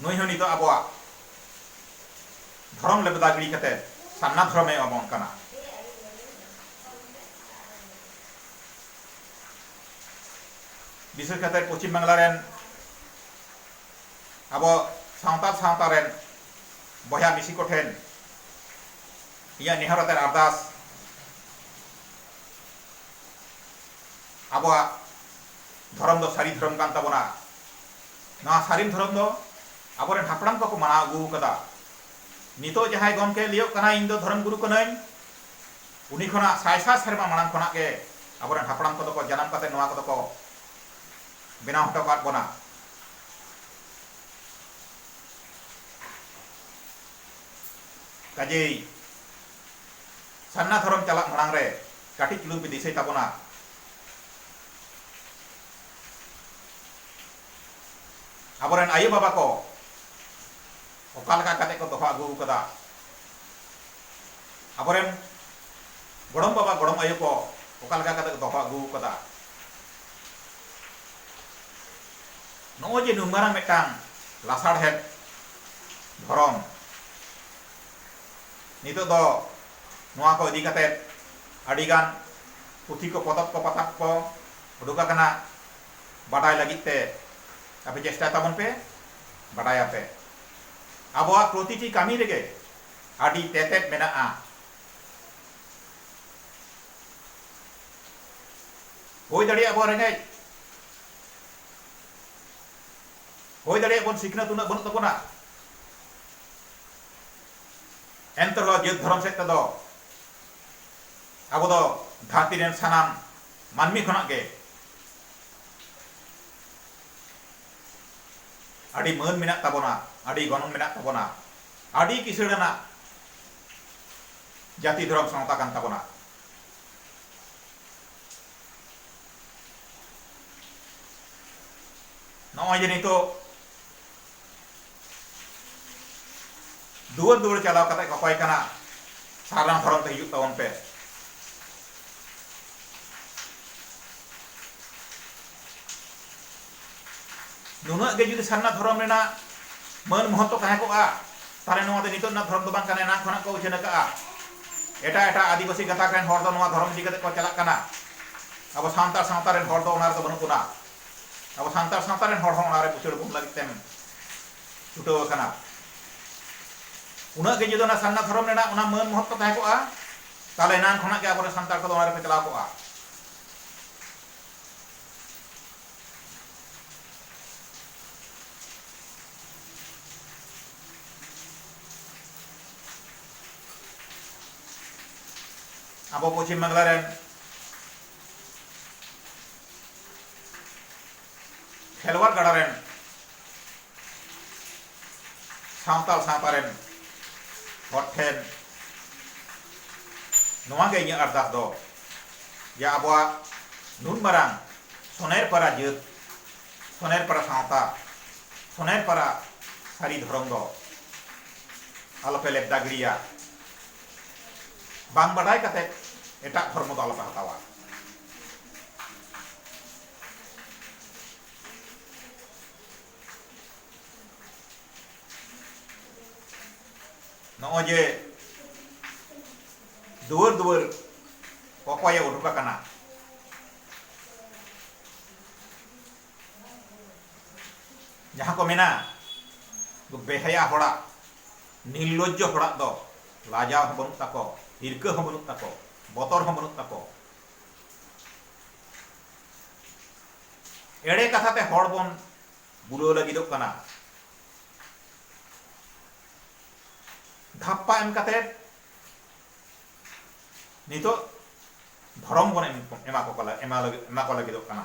ᱱᱩᱭ ᱦᱚᱸ ᱱᱤᱛᱚᱜ ᱟᱵᱚᱣᱟᱜ ᱫᱷᱚᱨᱚᱢ ᱞᱮᱵᱮᱫᱟ ᱜᱤᱲᱤ ᱠᱟᱛᱮ ᱥᱟᱨᱱᱟ ᱫᱷᱚᱨᱚᱢ ᱮ ᱮᱢᱟᱵᱚᱱ ᱠᱟᱱᱟ᱾ ᱵᱤᱥᱮᱥ ᱠᱟᱛᱮ ᱯᱚᱪᱷᱤᱢ ᱵᱟᱝᱞᱟ ᱨᱮᱱ ᱟᱵᱚ ᱥᱟᱶᱛᱟᱞ ᱥᱟᱶᱛᱟ ᱨᱮᱱ ᱵᱚᱭᱦᱟ ᱢᱤᱥᱤ ᱠᱚ ᱴᱷᱮᱱ ᱤᱧᱟᱹᱜ ᱱᱮᱦᱚᱨ ᱟᱛᱮ ᱟᱨᱫᱟᱥ ᱟᱵᱚᱣᱟᱜ ᱫᱷᱚᱨᱚᱢ ᱫᱚ ᱥᱟᱹᱨᱤ ᱫᱷᱚᱨᱚᱢ ᱠᱟᱱ ᱛᱟᱵᱚᱱᱟ᱾ ᱱᱚᱣᱟ ᱥᱟᱨᱤᱢ ᱫᱷᱚᱨᱚᱢ ᱫᱚ ᱟᱵᱚ ᱨᱮᱱ ᱦᱟᱯᱲᱟᱢ ᱠᱚ ᱠᱚ ᱢᱟᱱᱟᱣ ᱟᱹᱜᱩ ᱟᱠᱟᱫᱟ᱾ ᱱᱤᱛᱚᱜ ᱡᱟᱦᱟᱸᱭ ᱜᱚᱢᱠᱮ ᱞᱟᱹᱭᱚᱜ ᱠᱟᱱᱟᱭ ᱤᱧ ᱫᱚ ᱫᱷᱚᱨᱚᱢ ᱜᱩᱨᱩ ᱠᱟᱹᱱᱟᱹᱧ, ᱩᱱᱤ ᱠᱷᱚᱱᱟᱜ ᱥᱟᱭ ᱥᱟᱭ ᱥᱮᱨᱢᱟ ᱢᱟᱲᱟᱝ ᱠᱷᱚᱱᱟᱜ ᱜᱮ ᱟᱵᱚ ᱨᱮᱱ ᱦᱟᱯᱲᱟᱢ ᱠᱚ ᱫᱚ ᱠᱚ ᱡᱟᱱᱟᱢ ᱠᱟᱛᱮ ᱱᱚᱣᱟ ᱠᱚ ᱫᱚ ᱠᱚ ᱵᱮᱱᱟᱣ ᱦᱚᱴᱚ ᱠᱟᱫ ᱵᱚᱱᱟ᱾ ᱠᱟᱡᱮᱭ ᱥᱟᱨᱱᱟ ᱫᱷᱚᱨᱚᱢ ᱪᱟᱞᱟᱜ ᱢᱟᱲᱟᱝ ᱨᱮ ᱠᱟᱹᱴᱤᱡ ᱪᱩᱞᱩᱝ ᱯᱮ ᱫᱤᱥᱟᱹᱭ ᱛᱟᱵᱚᱱᱟ᱾ ᱟᱵᱚ ᱨᱮᱱ ᱟᱭᱳ ᱵᱟᱵᱟ ᱠᱚ ᱚᱠᱟ ᱞᱮᱠᱟ ᱠᱟᱛᱮ ᱠᱚ ᱫᱚᱦᱚ ᱟᱹᱜᱩ ᱟᱠᱟᱫᱟ ᱟᱵᱚ ᱨᱮᱱ ᱜᱚᱲᱚᱢ ᱵᱟᱵᱟ ᱜᱚᱲᱚᱢ ᱟᱭᱳ ᱠᱚ ᱚᱠᱟ ᱞᱮᱠᱟ ᱠᱟᱛᱮ ᱠᱚ ᱫᱚᱦᱚ ᱟᱹᱜᱩ ᱟᱠᱟᱫᱟ ᱱᱚᱜᱼᱚᱭ ᱡᱮ ᱱᱩᱱ ᱢᱟᱨᱟᱝ ᱢᱤᱫᱴᱟᱝ ᱞᱟᱥᱟᱲᱦᱮᱫ ᱫᱷᱚᱨᱚᱢ ᱱᱤᱛᱚᱜ ᱫᱚ ᱱᱚᱣᱟ ᱠᱚ ᱤᱫᱤ ᱠᱟᱛᱮ ᱟᱹᱰᱤ ᱜᱟᱱ ᱯᱩᱛᱷᱤ ᱠᱚ ᱯᱚᱛᱚᱵ ᱠᱚ ᱯᱟᱛᱟᱵ ᱠᱚ ᱩᱰᱩᱠ ᱟᱠᱟᱱᱟ ᱵᱟᱰᱟᱭ ᱞᱟᱹᱜᱤᱫ ᱛᱮ ᱟᱯᱮ ᱪᱮᱥᱴᱟᱭ ᱛᱟᱵᱚᱱ ᱯᱮ ᱵᱟᱰᱟᱭᱟᱯᱮ ᱟᱵᱚᱣᱟᱜ ᱯᱨᱚᱛᱤᱴᱤ ᱠᱟᱹᱢᱤ ᱨᱮᱜᱮ ᱟᱹᱰᱤ ᱛᱮᱛᱮᱫ ᱢᱮᱱᱟᱜᱼᱟ ᱦᱩᱭ ᱫᱟᱲᱮᱭᱟᱜ ᱵᱚᱱ ᱨᱮᱸᱜᱮᱡ ᱦᱩᱭ ᱫᱟᱲᱮᱭᱟᱜ ᱵᱚᱱ ᱥᱤᱠᱷᱱᱟᱹᱛ ᱩᱱᱟᱹᱜ ᱵᱟᱹᱱᱩᱜ ᱛᱟᱵᱚᱱᱟ ᱮᱱᱛᱮ ᱨᱮᱦᱚᱸ ᱡᱟᱹᱛ ᱫᱷᱚᱨᱚᱢ ᱥᱮᱫ ᱛᱮᱫᱚ ᱟᱵᱚ ᱫᱚ ᱫᱷᱟᱹᱨᱛᱤ ᱨᱮᱱ ᱥᱟᱱᱟᱢ ᱢᱟᱹᱱᱢᱤ ᱠᱷᱚᱱᱟᱜ ᱜᱮ ᱟᱹᱰᱤ ᱢᱟᱹᱱ ᱢᱮᱱᱟᱜ ᱛᱟᱵᱚᱱᱟ ᱟᱹᱰᱤ ᱜᱚᱱᱚᱝ ᱢᱮᱱᱟᱜ ᱛᱟᱵᱚᱱᱟ ᱟᱹᱰᱤ ᱠᱤᱥᱟᱹᱬ ᱟᱱᱟᱜ ᱡᱟᱹᱛᱤ ᱫᱷᱚᱨᱚᱢ ᱥᱟᱶᱛᱟ ᱠᱟᱱ ᱛᱟᱵᱚᱱᱟ ᱱᱚᱜᱼᱚᱭ ᱡᱮ ᱱᱤᱛᱚᱜ ᱫᱩᱣᱟᱹᱨ ᱫᱩᱣᱟᱹᱨ ᱪᱟᱞᱟᱣ ᱠᱟᱛᱮ ᱠᱚᱠᱚᱭ ᱠᱟᱱᱟ ᱥᱟᱨᱱᱟᱢ ᱦᱚᱨᱚᱜ ᱛᱮ ᱦᱤᱡᱩᱜ ᱛᱟᱵᱚᱱ ᱯᱮ ᱱᱩᱱᱟᱹᱜ ᱜᱮ ᱡᱩᱫᱤ ᱥᱟᱨᱱᱟ ᱫᱷᱚᱨᱚᱢ ᱨᱮᱱᱟᱜ ᱢᱟᱹᱱ ᱢᱚᱦᱚᱛᱛᱚ ᱛᱟᱦᱮᱸ ᱠᱚᱜᱼᱟ ᱛᱟᱦᱞᱮ ᱱᱚᱣᱟ ᱫᱚ ᱱᱤᱛᱚᱜ ᱨᱮᱱᱟᱜ ᱫᱷᱚᱨᱚᱢ ᱫᱚ ᱵᱟᱝ ᱠᱟᱱᱟ ᱮᱱᱟᱝ ᱠᱷᱚᱱᱟᱜ ᱠᱚ ᱩᱪᱷᱟᱹᱱ ᱟᱠᱟᱜᱼᱟ ᱮᱴᱟᱜ ᱮᱴᱟᱜ ᱟᱹᱫᱤᱵᱟᱹᱥᱤ ᱜᱟᱛᱟᱠ ᱨᱮᱱ ᱦᱚᱲ ᱫᱚ ᱱᱚᱣᱟ ᱫᱷᱚᱨᱚᱢ ᱤᱫᱤ ᱠᱟᱛᱮ ᱠᱚ ᱪᱟᱞᱟᱜ ᱠᱟᱱᱟ ᱟᱵᱚ ᱥᱟᱱᱛᱟᱲ ᱥᱟᱶᱛᱟ ᱨᱮᱱ ᱦᱚᱲ ᱫᱚ ᱚᱱᱟ ᱨᱮᱫᱚ ᱵᱟᱹᱱᱩᱜ ᱵᱚᱱᱟ ᱟᱵᱚ ᱥᱟᱱᱛᱟᱲ ᱥᱟᱶᱛᱟ ᱨᱮᱱ ᱦᱚᱲ ᱦᱚᱸ ᱚᱱᱟ ᱨᱮ ᱵᱩᱥᱟᱹᱲ ᱵᱚᱱ ᱞᱟᱹᱜᱤᱫ ᱛᱮᱢ ᱪᱷᱩᱴᱟᱹᱣ ᱟᱠᱟᱱᱟ ᱩᱱᱟᱹᱜ ᱜᱮ ᱡᱩᱫᱤ ᱚᱱᱟ ᱥᱟᱨᱱᱟ ᱫᱷᱚᱨᱚᱢ ᱨᱮᱱᱟᱜ ᱚᱱᱟ ᱢᱟᱹᱱ ᱢᱚᱦᱚᱛ ᱠᱚ ᱛᱟᱦᱮᱸ ᱠᱚᱜᱼᱟ ᱛᱟᱦᱚᱞᱮ ᱮᱱᱟᱱ ᱠᱷᱚᱱᱟᱜ ᱜᱮ ᱟᱵᱚᱨᱮᱱ ᱥᱟᱱᱛᱟᱲ ᱠᱚᱫᱚ ᱚᱱᱟ ᱨᱮᱠᱚ ᱪᱟᱞᱟᱣ ᱠᱚᱜᱼᱟ ᱟᱵᱚ ᱯᱚᱪᱷᱤᱢ ᱵᱟᱝᱞᱟ ᱨᱮᱱ ᱠᱷᱮᱞᱣᱟᱲ ᱜᱟᱰᱟ ᱨᱮᱱ ᱥᱟᱶᱛᱟᱞ ᱥᱟᱶᱛᱟ ᱨᱮᱱ ᱦᱚᱲ ᱴᱷᱮᱱ ᱱᱚᱣᱟ ᱜᱮ ᱤᱧᱟᱹᱜ ᱟᱨᱫᱟᱥ ᱫᱚ ᱡᱮ ᱟᱵᱚᱣᱟᱜ ᱱᱩᱱ ᱢᱟᱨᱟᱝ ᱥᱚᱱᱮᱨ ᱯᱟᱨᱟ ᱡᱟᱹᱛ ᱥᱚᱱᱮᱨ ᱯᱟᱨᱟ ᱥᱟᱶᱛᱟ ᱥᱚᱱᱮᱨ ᱯᱟᱨᱟ ᱥᱟᱹᱨᱤ ᱫᱷᱚᱨᱚᱢ ᱫᱚ ᱟᱞᱚᱯᱮ ᱞᱮᱵᱫᱟ ᱜᱤᱲᱤᱭᱟ ᱵᱟᱝ ᱵᱟᱰᱟᱭ ᱠᱟᱛᱮ ᱮᱴᱟᱜ ᱫᱷᱚᱨᱢᱚ ᱫᱚ ᱟᱞᱚᱯᱮ ᱦᱟᱛᱟᱣᱟ ᱱᱚᱜᱼᱚᱭ ᱡᱮ ᱫᱩᱣᱟᱹᱨ ᱫᱩᱣᱟᱹᱨ ᱚᱠᱚᱭᱮ ᱩᱰᱩᱠ ᱟᱠᱟᱱᱟ ᱡᱟᱦᱟᱸ ᱠᱚ ᱢᱮᱱᱟ ᱵᱮᱦᱟᱭᱟ ᱦᱚᱲᱟᱜ ᱱᱤᱨᱞᱚᱡᱡᱚ ᱦᱚᱲᱟᱜ ᱫᱚ ᱞᱟᱡᱟᱣ ᱦᱚᱸ ᱵᱟᱹᱱᱩᱜ ᱛᱟᱠᱚ ᱦᱤᱨᱠᱟᱹ ᱦᱚᱸ ᱵᱟᱹᱱᱩᱜ ᱛᱟᱠᱚ ᱵᱚᱛᱚᱨ ᱦᱚᱸ ᱵᱟᱹᱱᱩᱜ ᱛᱟᱠᱚ ᱮᱲᱮ ᱠᱟᱛᱷᱟ ᱛᱮ ᱦᱚᱲ ᱵᱚᱱ ᱵᱩᱞᱟᱹᱣ ᱞᱟᱹᱜᱤᱫᱚᱜ ᱠᱟᱱᱟ ᱫᱷᱟᱯᱯᱟ ᱮᱢ ᱠᱟᱛᱮ ᱱᱤᱛᱚᱜ ᱫᱷᱚᱨᱚᱢ ᱵᱚᱱ ᱮᱢᱟ ᱠᱚ ᱮᱢᱟ ᱠᱚ ᱞᱟᱹᱜᱤᱫᱚᱜ ᱠᱟᱱᱟ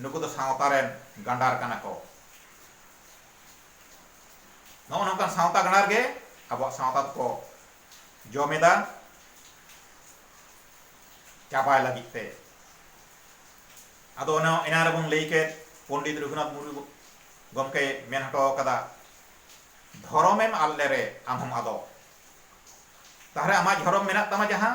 ᱱᱩᱠᱩ ᱫᱚ ᱥᱟᱶᱛᱟ ᱨᱮᱱ ᱜᱟᱸᱰᱟᱨ ᱠᱟᱱᱟ ᱠᱚ ᱱᱚᱜᱼᱚ ᱱᱚᱝᱠᱟᱱ ᱥᱟᱶᱛᱟ ᱜᱟᱸᱰᱟᱨ ᱜᱮ ᱟᱵᱚᱣᱟᱜ ᱥᱟᱶᱛᱟ ᱫᱚᱠᱚ ᱡᱚᱢᱮᱫᱟ ᱪᱟᱵᱟᱭ ᱞᱟᱹᱜᱤᱫ ᱛᱮ ᱟᱫᱚ ᱚᱱᱟ ᱮᱱᱟ ᱨᱮᱵᱚᱱ ᱞᱟᱹᱭ ᱠᱮᱫ ᱯᱚᱱᱰᱤᱛ ᱨᱚᱜᱷᱩᱱᱟᱛᱷ ᱢᱩᱨᱢᱩ ᱜᱚᱢᱠᱮ ᱢᱮᱱ ᱦᱚᱴᱚ ᱟᱠᱟᱫᱟ ᱫᱷᱚᱨᱚᱢᱮᱢ ᱟᱫ ᱞᱮᱨᱮ ᱟᱢᱦᱚᱢ ᱟᱫᱚᱜ ᱛᱟᱦᱞᱮ ᱟᱢᱟᱜ ᱫᱷᱚᱨᱚᱢ ᱢᱮᱱᱟᱜ ᱛᱟᱢᱟ ᱡᱟᱦᱟᱸ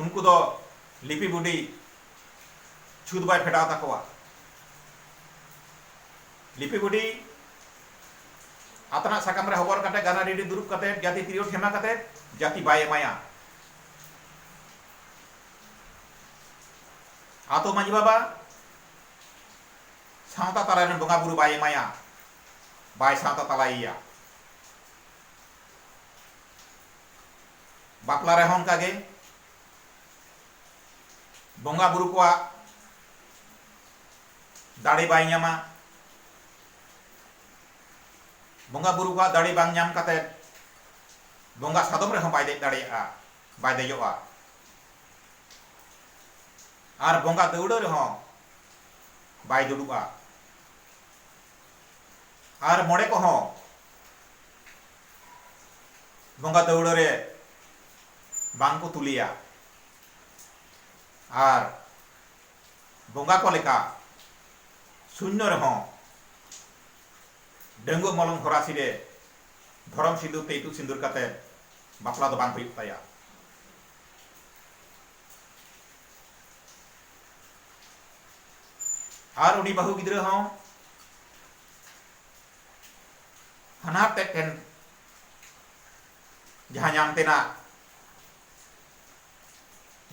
ᱩᱱᱠᱩ ᱫᱚ ᱞᱤᱯᱤ ᱵᱩᱰᱤ ᱪᱷᱩᱛ ᱵᱟᱭ ᱯᱷᱮᱰᱟᱣ ᱛᱟᱠᱚᱣᱟ᱾ ᱞᱤᱯᱤ ᱵᱩᱰᱤ ᱟᱛᱱᱟᱜ ᱥᱟᱠᱟᱢ ᱨᱮ ᱦᱚᱵᱚᱨ ᱠᱟᱛᱮ ᱜᱟᱱᱟ ᱨᱮᱰᱤ ᱫᱩᱨᱩᱵ ᱠᱟᱛᱮ ᱡᱟᱹᱛᱤ ᱛᱤᱨᱭᱳ ᱴᱷᱮᱢᱟ ᱠᱟᱛᱮ ᱡᱟᱹᱛᱤ ᱵᱟᱭ ᱮᱢᱟᱭᱟ᱾ ᱟᱛᱳ ᱢᱟᱹᱡᱷᱤ ᱵᱟᱵᱟ ᱥᱟᱶᱛᱟ ᱛᱟᱞᱟ ᱨᱮᱱ ᱵᱚᱸᱜᱟ ᱵᱩᱨᱩ ᱵᱟᱭ ᱮᱢᱟᱭᱟ, ᱵᱟᱭ ᱥᱟᱶᱛᱟ ᱛᱟᱞᱟᱭᱮᱭᱟ᱾ ᱵᱟᱯᱞᱟ ᱨᱮᱦᱚᱸ ᱚᱱᱠᱟ ᱜᱮ ᱵᱚᱸᱜᱟ ᱵᱩᱨᱩ ᱠᱚᱣᱟᱜ ᱫᱟᱲᱮ ᱵᱟᱭ ᱧᱟᱢᱟ ᱵᱚᱸᱜᱟ ᱵᱩᱨᱩ ᱠᱚᱣᱟᱜ ᱫᱟᱲᱮ ᱵᱟᱝ ᱧᱟᱢ ᱠᱟᱛᱮ ᱵᱚᱸᱜᱟ ᱥᱟᱫᱚᱢ ᱨᱮᱦᱚᱸ ᱵᱟᱭ ᱫᱮᱡ ᱫᱟᱲᱮᱭᱟᱜᱼᱟ ᱵᱟᱭ ᱫᱮᱡᱚᱜᱼᱟ ᱟᱨ ᱵᱚᱸᱜᱟ ᱫᱟᱹᱣᱲᱟᱹ ᱨᱮᱦᱚᱸ ᱵᱟᱭ ᱫᱩᱲᱩᱵᱼᱟ ᱟᱨ ᱢᱚᱬᱮ ᱠᱚᱦᱚᱸ ᱵᱚᱸᱜᱟ ᱫᱟᱹᱣᱲᱟᱹ ᱨᱮ ᱵᱟᱝ ᱠᱚ ᱛᱩᱞᱮᱭᱟ ᱟᱨ ᱵᱚᱸᱜᱟ ᱠᱚ ᱞᱮᱠᱟ ᱥᱩᱱᱭᱚ ᱨᱮᱦᱚᱸ ᱰᱟᱹᱝᱜᱩᱣᱟᱹ ᱢᱚᱞᱚᱝ ᱦᱚᱨᱟᱥᱤ ᱨᱮ ᱫᱷᱚᱨᱚᱢ ᱥᱤᱸᱫᱩᱨ ᱛᱮ ᱤᱛᱩᱫ ᱥᱤᱸᱫᱩᱨ ᱠᱟᱛᱮ ᱵᱟᱯᱞᱟ ᱫᱚ ᱵᱟᱝ ᱦᱩᱭᱩᱜ ᱛᱟᱭᱟ ᱟᱨ ᱩᱱᱤ ᱵᱟᱹᱦᱩ ᱜᱤᱫᱽᱨᱟᱹ ᱦᱚᱸ ᱦᱟᱱᱦᱟᱨ ᱛᱮᱫ ᱴᱷᱮᱱ ᱡᱟᱦᱟᱸ ᱧᱟᱢ ᱛᱮᱱᱟᱜ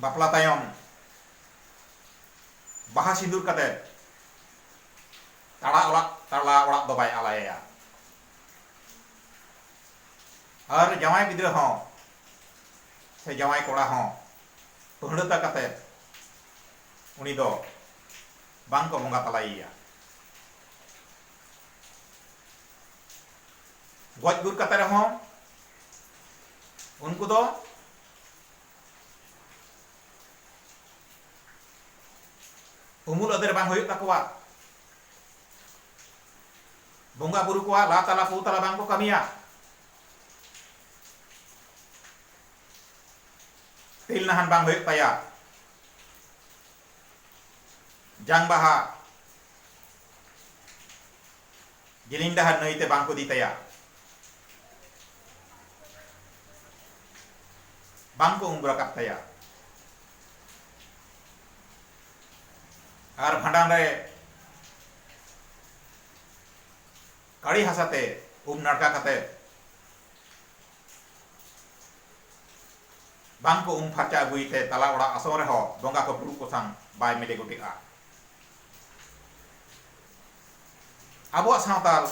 ᱵᱟᱯᱞᱟ ᱛᱟᱭᱚᱢ ᱵᱟᱦᱟ ᱥᱤᱸᱫᱩᱨ ᱠᱟᱛᱮ ᱛᱟᱲᱟ ᱚᱲᱟᱜ ᱛᱟᱲᱟ ᱚᱲᱟᱜ ᱫᱚ ᱵᱟᱭ ᱟᱞᱟᱭᱮᱭᱟ ᱟᱨ ᱡᱟᱶᱟᱭ ᱜᱤᱫᱽᱨᱟᱹ ᱦᱚᱸ ᱥᱮ ᱡᱟᱶᱟᱭ ᱠᱚᱲᱟ ᱦᱚᱸ ᱯᱟᱹᱦᱲᱟᱹᱛᱟ ᱠᱟᱛᱮ ᱩᱱᱤ ᱫᱚ ᱵᱟᱝ ᱠᱚ ᱵᱚᱸᱜᱟ ᱛᱟᱞᱟᱭᱮᱭᱟ ᱜᱚᱡ ᱜᱩᱨ ᱠᱟᱛᱮ ᱨᱮᱦᱚᱸ ᱩᱱᱠᱩ ᱫᱚ ᱩᱢᱩᱞ ᱟᱫᱮᱨ ᱵᱟᱝ ᱦᱩᱭᱩᱜ ᱛᱟᱠᱚᱣᱟ ᱵᱚᱸᱜᱟ ᱵᱩᱨᱩ ᱠᱚᱣᱟ ᱞᱟ ᱛᱟᱞᱟ ᱯᱩ ᱛᱟᱞᱟ ᱵᱟᱝ ᱠᱚ ᱠᱟᱹᱢᱤᱭᱟ ᱛᱤᱞ ᱱᱟᱦᱟᱱ ᱵᱟᱝ ᱦᱩᱭᱩᱜ ᱛᱟᱭᱟ ᱡᱟᱝ ᱵᱟᱦᱟ ᱡᱤᱞᱤᱧ ᱰᱟᱦᱟᱨ ᱱᱟᱹᱭ ᱛᱮ ᱵᱟᱝ ᱠᱚ ᱤᱫᱤ ᱛᱟᱭᱟ ᱵᱟᱝ ᱠᱚ ᱩᱢ ᱨᱟᱠᱟᱵ ᱛᱟᱭᱟ ᱟᱨ ᱵᱷᱟᱸᱰᱟᱱ ᱨᱮ ᱠᱟᱲᱤ ᱦᱟᱥᱟ ᱛᱮ ᱩᱢ ᱱᱟᱲᱠᱟ ᱠᱟᱛᱮ ᱵᱟᱝ ᱠᱚ ᱩᱢ ᱯᱷᱟᱨᱪᱟ ᱟᱹᱜᱩᱭ ᱛᱮ ᱛᱟᱞᱟ ᱚᱲᱟᱜ ᱟᱥᱚᱱ ᱨᱮᱦᱚᱸ ᱵᱚᱸᱜᱟ ᱠᱚ ᱯᱩᱨᱩᱵ ᱠᱚᱥᱟᱝ ᱵᱟᱭ ᱢᱮᱞᱮ ᱜᱚᱴᱮᱜᱼᱟ ᱟᱵᱚᱣᱟᱜ ᱥᱟᱶᱛᱟᱞ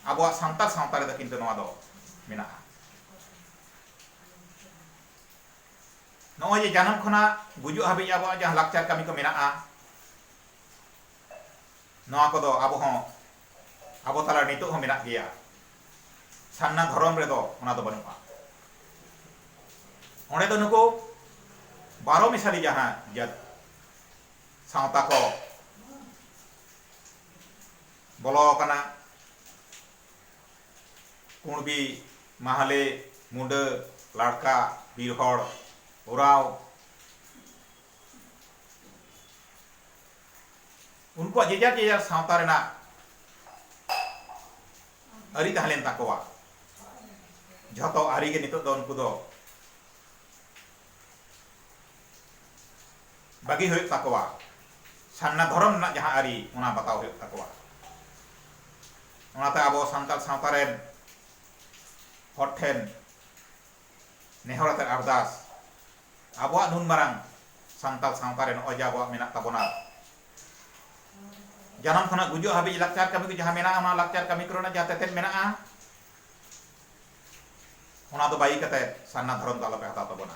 ᱟᱵᱚᱣᱟᱜ ᱥᱟᱱᱛᱟᱲ ᱥᱟᱶᱛᱟ ᱨᱮᱫᱚ ᱠᱤᱱᱛᱩ ᱱᱚᱣᱟ ᱫᱚ ᱢᱮᱱᱟᱜᱼᱟ ᱱᱚᱜᱼᱚᱭ ᱡᱮ ᱡᱟᱱᱟᱢ ᱠᱷᱚᱱᱟᱜ ᱜᱩᱡᱩᱜ ᱦᱟᱹᱵᱤᱡ ᱟᱵᱚᱣᱟᱜ ᱡᱟᱦᱟᱸ ᱞᱟᱠᱪᱟᱨ ᱠᱟᱹᱢᱤ ᱠᱚ ᱢᱮᱱᱟᱜᱼᱟ ᱱᱚᱣᱟ ᱠᱚᱫᱚ ᱟᱵᱚ ᱦᱚᱸ ᱟᱵᱚ ᱛᱟᱞᱟ ᱱᱤᱛᱚᱜ ᱦᱚᱸ ᱢᱮᱱᱟᱜ ᱜᱮᱭᱟ ᱥᱟᱨᱱᱟ ᱫᱷᱚᱨᱚᱢ ᱨᱮᱫᱚ ᱚᱱᱟ ᱫᱚ ᱵᱟᱹᱱᱩᱜᱼᱟ ᱚᱸᱰᱮ ᱫᱚ ᱱᱩᱠᱩ ᱵᱟᱨᱚ ᱢᱮᱥᱟᱞᱤ ᱡᱟᱦᱟᱸ ᱡᱟᱹᱛ ᱥᱟᱶᱛᱟ ᱠᱚ ᱵᱚᱞᱚ ᱟᱠᱟᱱᱟ ᱠᱩᱬᱵᱤ, ᱢᱟᱦᱞᱮ, ᱢᱩᱸᱰᱟᱹ, ᱞᱟᱲᱠᱟ, ᱵᱤᱨ ᱦᱚᱲ, ᱳᱨᱟᱸᱣ, ᱩᱱᱠᱩᱣᱟᱜ ᱡᱮᱡᱟᱨ ᱡᱮᱡᱟᱨ ᱥᱟᱶᱛᱟ ᱨᱮᱱᱟᱜ ᱟᱹᱨᱤ ᱛᱟᱦᱮᱸ ᱞᱮᱱ ᱛᱟᱠᱚᱣᱟ ᱡᱷᱚᱛᱚ ᱟᱹᱨᱤ ᱜᱮ ᱱᱤᱛᱚᱜ ᱫᱚ ᱩᱱᱠᱩ ᱫᱚ ᱵᱟᱹᱜᱤ ᱦᱩᱭᱩᱜ ᱛᱟᱠᱚᱣᱟ, ᱥᱟᱨᱱᱟ ᱫᱷᱚᱨᱚᱢ ᱨᱮᱱᱟᱜ ᱡᱟᱦᱟᱸ ᱟᱹᱨᱤ ᱚᱱᱟ ᱵᱟᱛᱟᱣ ᱦᱩᱭᱩᱜ ᱛᱟᱠᱚᱣᱟ᱾ ᱚᱱᱟᱛᱮ ᱟᱵᱚ ᱥᱟᱱᱛᱟᱲ ᱥᱟᱶᱛᱟ ᱨᱮᱱ ᱦᱚᱲ ᱴᱷᱮᱱ ᱱᱮᱦᱚᱨ ᱟᱛᱮ ᱟᱨᱫᱟᱥ, ᱟᱵᱚᱣᱟᱜ ᱱᱩᱱ ᱢᱟᱨᱟᱝ ᱥᱟᱱᱛᱟᱲ ᱥᱟᱶᱛᱟ ᱨᱮ ᱱᱚᱜᱼᱚᱭ ᱡᱮ ᱟᱵᱚᱣᱟᱜ ᱢᱮᱱᱟᱜ ᱛᱟᱵᱚᱱᱟ, ᱡᱟᱱᱟᱢ ᱠᱷᱚᱱᱟᱜ ᱜᱩᱡᱩᱜ ᱦᱟᱹᱵᱤᱡ ᱞᱟᱠᱪᱟᱨ ᱠᱟᱹᱢᱤ ᱠᱚ ᱡᱟᱦᱟᱸ ᱢᱮᱱᱟᱜᱼᱟ ᱚᱱᱟ ᱞᱟᱠᱪᱟᱨ ᱠᱟᱹᱢᱤ ᱠᱚᱨᱮᱱᱟᱜ ᱡᱟᱦᱟᱸ ᱛᱮᱛᱮᱫ ᱢᱮᱱᱟᱜᱼᱟ ᱚᱱᱟ ᱫᱚ ᱵᱟᱹᱜᱤ ᱠᱟᱛᱮ ᱥᱟᱨᱱᱟ ᱫᱷᱚᱨᱚᱢ ᱫᱚ ᱟᱞᱚ ᱯᱮ ᱦᱟᱛᱟᱣ ᱛᱟᱵᱚᱱᱟ᱾